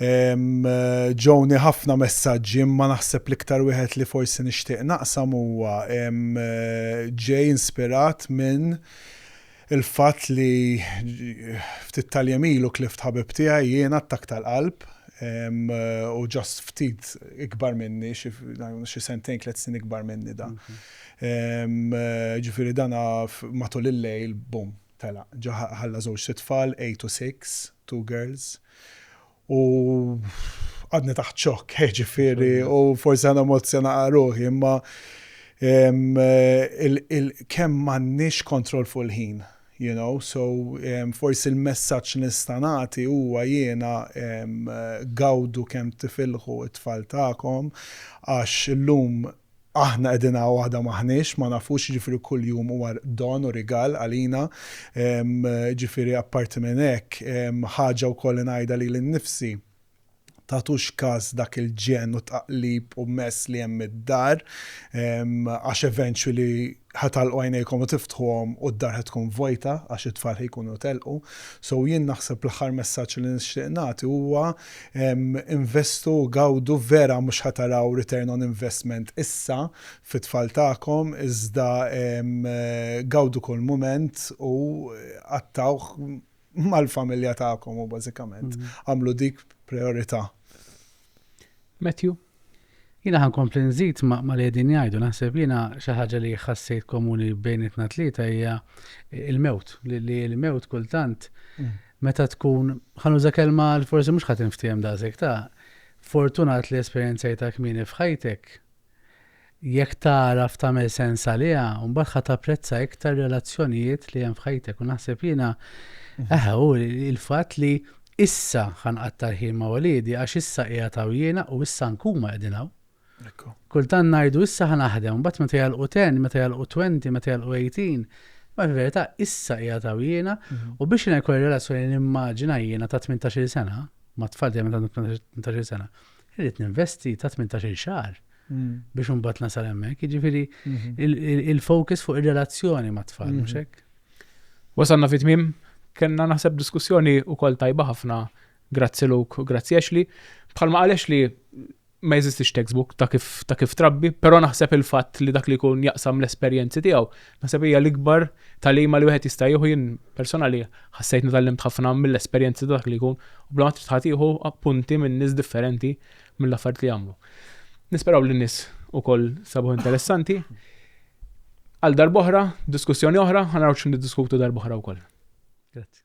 ġewni ħafna messaġġi imma naħseb l-iktar wieħed li forsi nixtieq naqsam huwa ġej inspirat minn Il-fatt li ftit tal-jiem ilu tlift ħabib tiegħi, jien, attakk tal-qalb, u just ftit ikbar minni, xi sentejn tliet snin ikbar minni dan. Ġifieri dan matul il-lejl, bum, telaq. Ġa ħalla żewġt itfal, eight u six, two girls. U għadni taħt xokk, ġifiri, u forsi għana emozzjona għaruħi, imma kemm mannix kontrol fuq il-ħin, you know, so forsi l-messaċ nistanati huwa jiena gawdu kemm tifilħu it-tfal ta'kom, għax l-lum Aħna qegħdin hawn għada m'aħniex, ma nafux, jiġifieri kull jum huwa don u rigal għalina. Jiġifieri apparti minn hekk, ħaġa wkoll li ngħidha lili nnifsi, tagħtux kas dak il-ġenn u tqaqlib u mess li hemm id-dar għax eventually Ħa tagħlqu għajnejkom u tiftħuhom u d-dar ħa tkun vojta għax it-tfal ħa jkunu telqu. So jien naħseb l-aħħar messaġġ li nixtieq nagħti huwa investu u gawdu vera mhux ħa taraw return on investment issa fit-tfal tagħkom iżda gawdu kull mument u qattgħuh mal-familja tagħkom u bażikament għamlu dik prijorità. Matthew? Jiena ħa nkompli nżid ma' li qegħdin jgħidu, naħseb jiena xi ħaġa li ħassejt komuni bejnietna tlieta hija il-mewt, li l-mewt kultant mm. meta tkun ħanuża kelma li forsi mhux ħadd inftiehem daqshekk ta' fortunat li esperjenzajta kmieni f'ħajtek Jekk tagħraf tagħmel sens għaliha, mbagħad ħa tapprezza iktar relazzjonijiet li hemm f'ħajtek. U naħseb jiena, eħe, hu l-fatt li issa ħa nqatta' l-ħin ma' uliedi għax issa qiegħed hawn jiena u issa anke huma qegħdin hawn. Kultant ngħidu issa ħa naħdem, mbagħad meta jagħlqu ten, meta jagħlqu twenty, meta jagħlqu eighteen, ma fil-verità issa qiegħed hawn jiena u biex jiena jkolli relazzjoni nimmaġina jiena ta' tmintax-il sena, ma' tfal tiegħi meta għandhom tmintax-il sena, irrid ninvesti ta' tmintax-il xahar biex imbagħad nasal hemmhekk. Jiġifieri il-focus fuq ir-relazzjoni mat-tfal, mhux hekk? Wasalna fi tmiem, kellna naħseb diskussjoni wkoll tajba ħafna grazzi Luk u grazzi Ashley. Bħalma qal Ashley ma jeżistix textbook ta' kif ta' kif trabbi, però naħseb il-fatt li dak li jkun jaqsam l-esperjenzi tiegħu, naħseb hija l-ikbar talima li wieħed jista' jieħu jien personali ħassejt nitallimt ħafna mill-esperjenzi ta' dak li jkun u bla ma trid ħadd jieħu appunti minn nies differenti mill-affarijiet li jagħmlu. Nisperaw li n-nies ukoll sabuh interessanti. Għal darboħra, diskussjoni oħra, ħanaraw x'in diskutu darboħra wkoll. Grazzi.